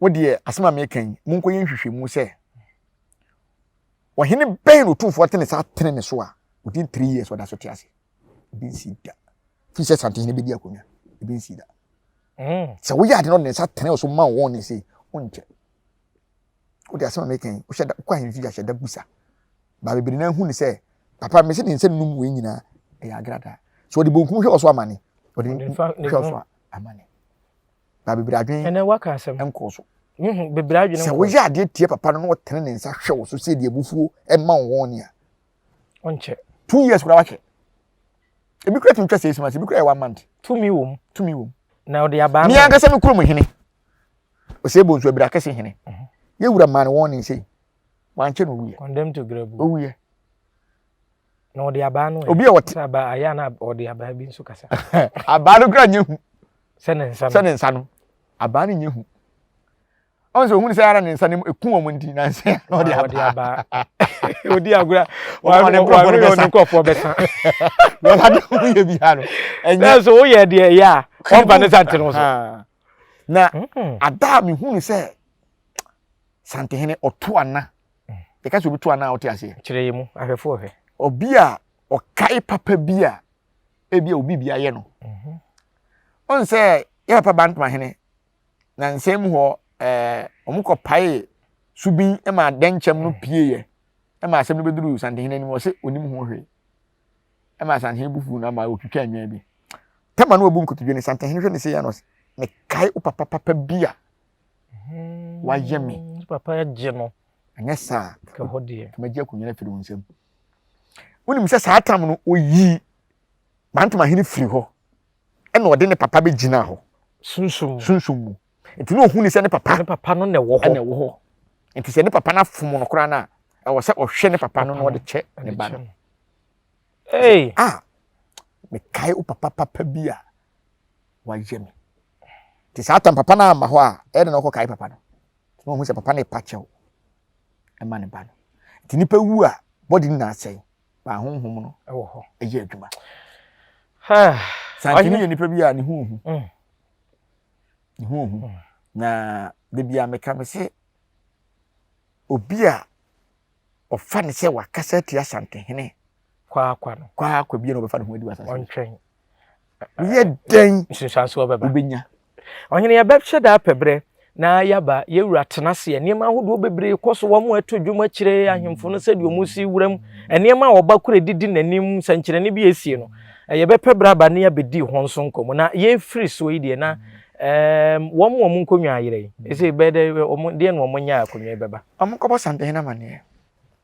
wo deɛ asɛm a meka yi monkɔ yɛ nhwehwɛmu sɛ ɔhene bɛn na ɔtumfoɔ atene saa tene ne so a within three years ɔda so te ase ebi nsi da fi sɛ santehene bɛdi akonnwa ebi nsi da Mm. Sɛ woyɛ ade no de nsa tene so ma wɔn ne sei, wonkyɛ. Wode asɛm a meka yi, wohyɛ da wokɔ ahemfi ahyɛ da busa. Ba bebree na ahu ne sɛ, papa mese ne nsa num wei nyinaa ɛyɛ agradaa. So ɔde bonkum hwɛ ɔso amane. Ɔde hwɛ ɔso amane. Ba bebree adwene ɛnɛ waka asɛm nkɔ so. Bebree adwene nkɔ. Sɛ woyɛ adeɛ tie papa no na ɔtene ne nsa hwɛ wo so sɛ deɛ abufuo ɛma wɔn ne a, ɔnkyɛ two years kura wahwɛ ebi kura tumi twa six months ebi kura yɛ one month tumi wɔ mu tumi wɔ mu na ɔde abaa mmea ankasa mi kurom hene ɔsɛ ebo nso abira kɛse hene mhm. yɛ wura maa ne wɔn ne nsɛm wankyɛ na owuyɛ condemn to grabu owuyɛ na ɔde abaa no obi a ɔte sɛ abaa ayɛ na ɔde abaa bi nso kasa abaa no kura nye hu sɛ ne nsa no sɛ ne nsa no abaa no nye hu ɔn sɛ ohun sɛ ara ne nsa ne mu eku wɔn nti na nsa na ɔde aba odi agorɔ wɔn ne nkurɔfoɔ bɛsa wɔba de ho yɛ bi ha no ɛnyɛ so woyɛ deɛ ɛyɛ a ɔba ne sante no so na hmm. ada a mehunu sɛ santehene ɔto ana yɛka sɛ obi to ana a ɔte aseɛ kyerɛ yɛ mu ahwɛfoɔ hwɛ obi a ɔkae papa bi a ebi a obi bi ayɛ no mhm. ɔn sɛ yɛ papa bantama hene nyansae mu hɔ ɛɛ wɔkɔpaee subin ma dɛnkyɛm no pieeɛ ma asɛm no bɛduruu santehene anim ɔse ɔnim ho hwee ɛma santehene bu fuu no ama ɔtwitwaa nnwan bi tɛma no ɔbu nkotodwe no santehene hwɛ ne sɛ yɛ no ɔse mekae wo papa papa bi a hmm. wayɛ me papa agye no ɛnyɛ saa tɛmagye akonnwa no afiri wo nsam wonim sɛ saa tam no ɔyii mantoma hene firi hɔ ɛna ɔde ne papa bɛgyinaa hɔ. Sunsum mu. Sunsum mu. Nti na ɔhu ne sɛ ne papa. Ne papa no na ɛwɔ hɔ. Na ɛwɔ hɔ. Nti sɛ ne papa no afom no koraa no a, ɛwɔ sɛ ɔhwɛ ne papa no na ɔde kyɛ ne ba no. Hey! Ah! Mekae wo papa papa bi a wayɛ me. Nti saa tam papa no amma hɔ a, ɛna na ɔkɔkae papa no. Na ɔhu sɛ papa no repa kyɛw ɛma ne ba no. Nti nipa wu a, bɔde nyinaa sɛe. baa honhom no wɔ hɔ yɛ adwuma santene yɛ nipa bi a ne ho ohu mm. ne ho ohu mm. na da bia meka me se obi a ɔfa ne sɛ wakasa atia santehene kwaakwa no kwaakwa bia na ɔbɛfa ne ho adi wɔ asase ɔntwɛn woyɛ dɛn nsunsuanso ɔbɛba wobɛnya Ɔhene yɛbɛhwɛ daa pɛ berɛ na yɛaba yɛwura tenaseɛ nneɛma ahodoɔ bebree kɔ so wɔn ato dwom akyerɛ ahemfo no sɛdeɛ wɔn si wuram nneɛma a ɔba kura didi n'anim sɛnkyerɛnne bi esie no yɛbɛpɛ berɛ aba ne yɛabɛdi ho nso nkɔmmɔ na yɛfiri soɔ yi deɛ na ɛɛm wɔn wɔn nkonnwa ayerɛ yi ɛsɛ bɛdɛ wɔn deɛ na wɔn nyɛ akonnwa yi bɛba wɔn kɔbɔ sampehene amaneɛ.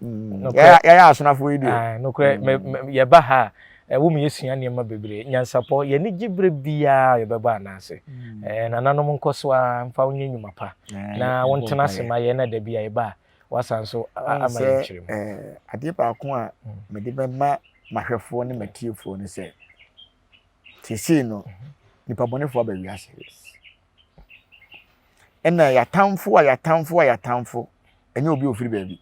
Mm. yɛyɛ asonafo yi deɛ nokorɛ mm. yɛba ha a ɛwo mu yɛsua nneɛma bebree nyansapɔ yɛne gye berɛ biaa yɛbɛba anaase mm. nananom nkɔ so a mfa wonyɛ nnwuma pa na wontena ase ma yɛn na da bi a yɛba a wasan so ama yɛnkyerɛ mu adeɛ baako a mede bɛma mahwɛfoɔ ne matiefoɔ no sɛ seesei no mm-hmm. nipa bɔnefoɔ aba wiase ɛna yɛatamfo a yɛatamfo a yɛatamfo ɛnyɛ obi a ofiri baabi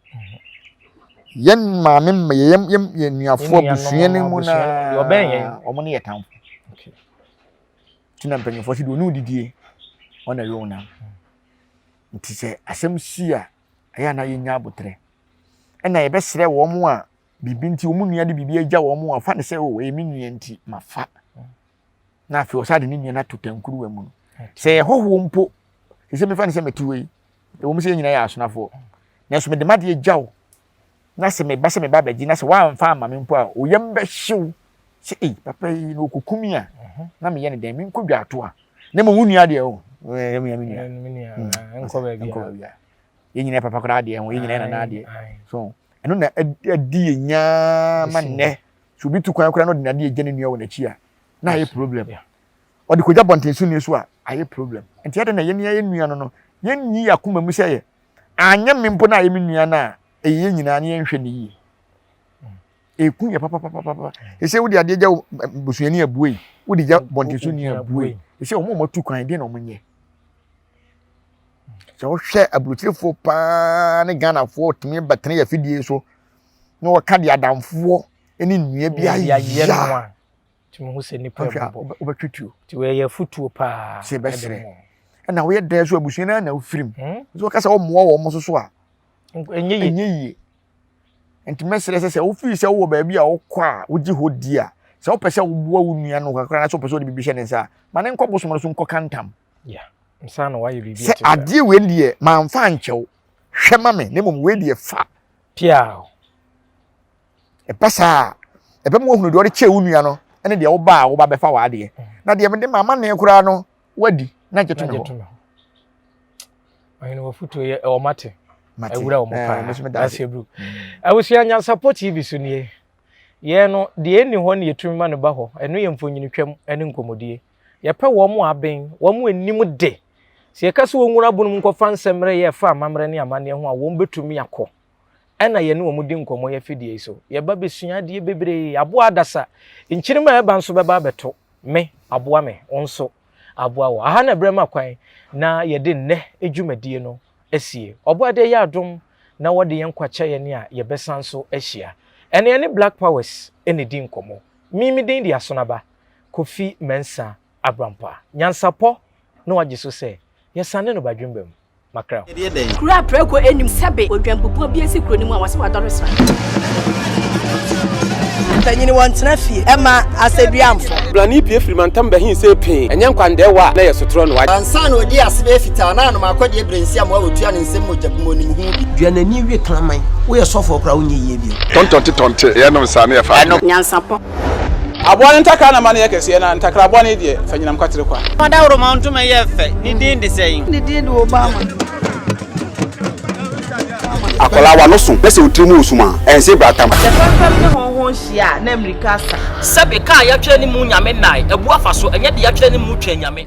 yɛn maame mma yɛn yɛn yɛn nuafo abusua no mu na ɔbɛn yɛn wɔn ne yɛ tamfo tina mpanyinfoɔ si de onu didie wɔn na ɛyɛ wɔn na nti sɛ asɛm si a ɛyɛ ana yɛnya abotrɛ ɛna yɛbɛsrɛ wɔn a biribi nti wɔn nua de biribi agya wɔn a fa ne sɛ o ɛyɛ me nua nti ma fa na afei ɔsan de ne nua no ato tankuruwa mu no sɛ yɛ hɔhoɔ mpo te sɛ mefa no sɛ mɛte wɔ yi ɛwɔ mu sɛ yɛn nyinaa yɛ asonafoɔ nanso mede madeɛ gya wo na sɛ meba sɛ meba abɛgye na sɛ woamfa ama me mpo a oyam bɛhyew sɛ ei papa yi na ɔkɔku me a mhm. na meyɛ ne dɛn menkɔ dwa ato a na mmom wo nua deɛ o yɛn nyinaa papa koraa adeɛ ho yɛn nyinaa nana adeɛ so ɛno na adi yɛn nyaa ma nnɛ Sɛ obi tu kwan koraa na ɔde n'ade agya ne nua wɔ n'akyi a, na ayɛ problem. Ɔde kɔgya bɔnten so nni so a, ayɛ problem. Nti adɛn na yɛne yɛn nua no no, yɛnyi yɛn akoma mu sɛ yɛ anyɛ me mpo na ayɛ me nua no a, ɛyɛ yɛn nyinaa na yɛnhwɛ no yie. Ɛku yɛ papapapapa. Ɛsɛ wode adeɛ gya bosuani abue yi, wode gya bɔnten so ni abue yi. Ɛsɛ wɔn a wɔatu kwan deɛ na wɔnyɛ. Sɛ wohwɛ aburokyerefoɔ paa ne Ghanafoɔ tumi bɛtene yɛ afidie so na ɔka deɛ adamfoɔ ne nnua bi ayɛ no a tumi ho sɛ nipa bubɔ wobɛtwe tuo nti wɔyɛ afutuo paa sɛ bɛsrɛ ɛna woyɛ dɛn so abusua no na wofirim hmm? nti wɔka sɛ wɔmmoa wɔ mo so so a ɛnyɛ yie nti mɛsrɛ sɛ sɛ wofiri sɛ wowɔ baabi a wokɔ a wogye hɔ di a sɛ wopɛ sɛ woboa wo nua no kakra na sɛ wopɛ sɛ wode biribi hyɛ ne nsa a ma ne nkɔ bosom no so nkɔka ntam sɛ adeɛ wei deɛ manfa ankyɛw hwɛ ma me na mmom wei deɛ fa ɛba saa a ɛbɛma woahunu deɛ ɔde kyɛɛ wo nua no ne deɛ woba a woba bɛfa w'adeɛ mm. na deɛ mede ma amanneɛ koraa no woadi na gye to me hɔ awura wɔn paa ase bru abusua nyansapɔ tv so nie yɛn no deɛ ɛnni hɔ ne yɛtumi ma no ba hɔ ɛno yɛ mfonyinitwam ne nkɔmmɔdie Yɛpɛ wɔn a aben, wɔn a anim de. Sɛ yɛka sɛ wɔnwura abon mu nkɔfa nsɛmmrɛ yɛ ɛfa amammerɛ ne amanneɛ ho a, wɔbɛtumi akɔ. Ɛna yɛne wɔn di nkɔmmɔ yɛ afidie yi so. Yɛba bɛsua adeɛ bebree. Aboa adasa. Nkyenema a ɛba nso bɛba abɛto me, aboa me, wo nso aboa wo. Aha na berɛ ma kwan na yɛde nnɛ dwumadie no asie. Ɔbɔadeɛ yɛ adom na wɔde yɛn nkwa kyɛ yɛn a yɛbɛsan nso ahyia. Ɛna yɛne Black Powers na ɛdi nkɔmmɔ. Me, me din de Asonaba. Kofi Mensah Abrampah. Nyansapɔ na wagye so sɛ, Yɛsane no Badwemba mu. Makrɛw. Kuro a prɛko nnim sɛbe odwanbubuo bi asi kuro no mu a wɔse wadɔre sra. Mpanyini wɔntena fie ɛma asɛduamfo. Brane pie firi mantam bɛhe sɛ pee, ɛnyɛ nkwandɛɛ wɔ a na ɛyɛ sotorɔ no wagye. Ansa na ɔdi ase bɛyɛ fitaa na anom akɔdeɛ berɛ nsi amoa ɔtua ne nsam mogya gu mu ɔnim ho bi. Dua n'ani we kraman. Woyɛ sɔfoɔ koraa wonyɛ yie bio. Tɔntɔnte tɔnte, yɛnom saa na yɛfa adwene. Nyansapɔ. Aboa no ntakra na ma no yɛ kɛseɛ, na ntakra bɔne deɛ, fa nyinam kwatere kwa. Fa dawuroma ntoma yɛ fɛ, ne din de sɛn? Ne din de Obama. Akwadaa w'ano so na sɛ wo tiri mu resum a, ɛnse brata ma. Sɛ fɛmfɛm ne hɔnhɔn hyia a, na mmirika asa. Sɛbe, ka a yɛatwerɛ ne mu Nyame nnae, abu afa so, ɛnyɛ deɛ yɛatwerɛ ne mu twɛn Nyame.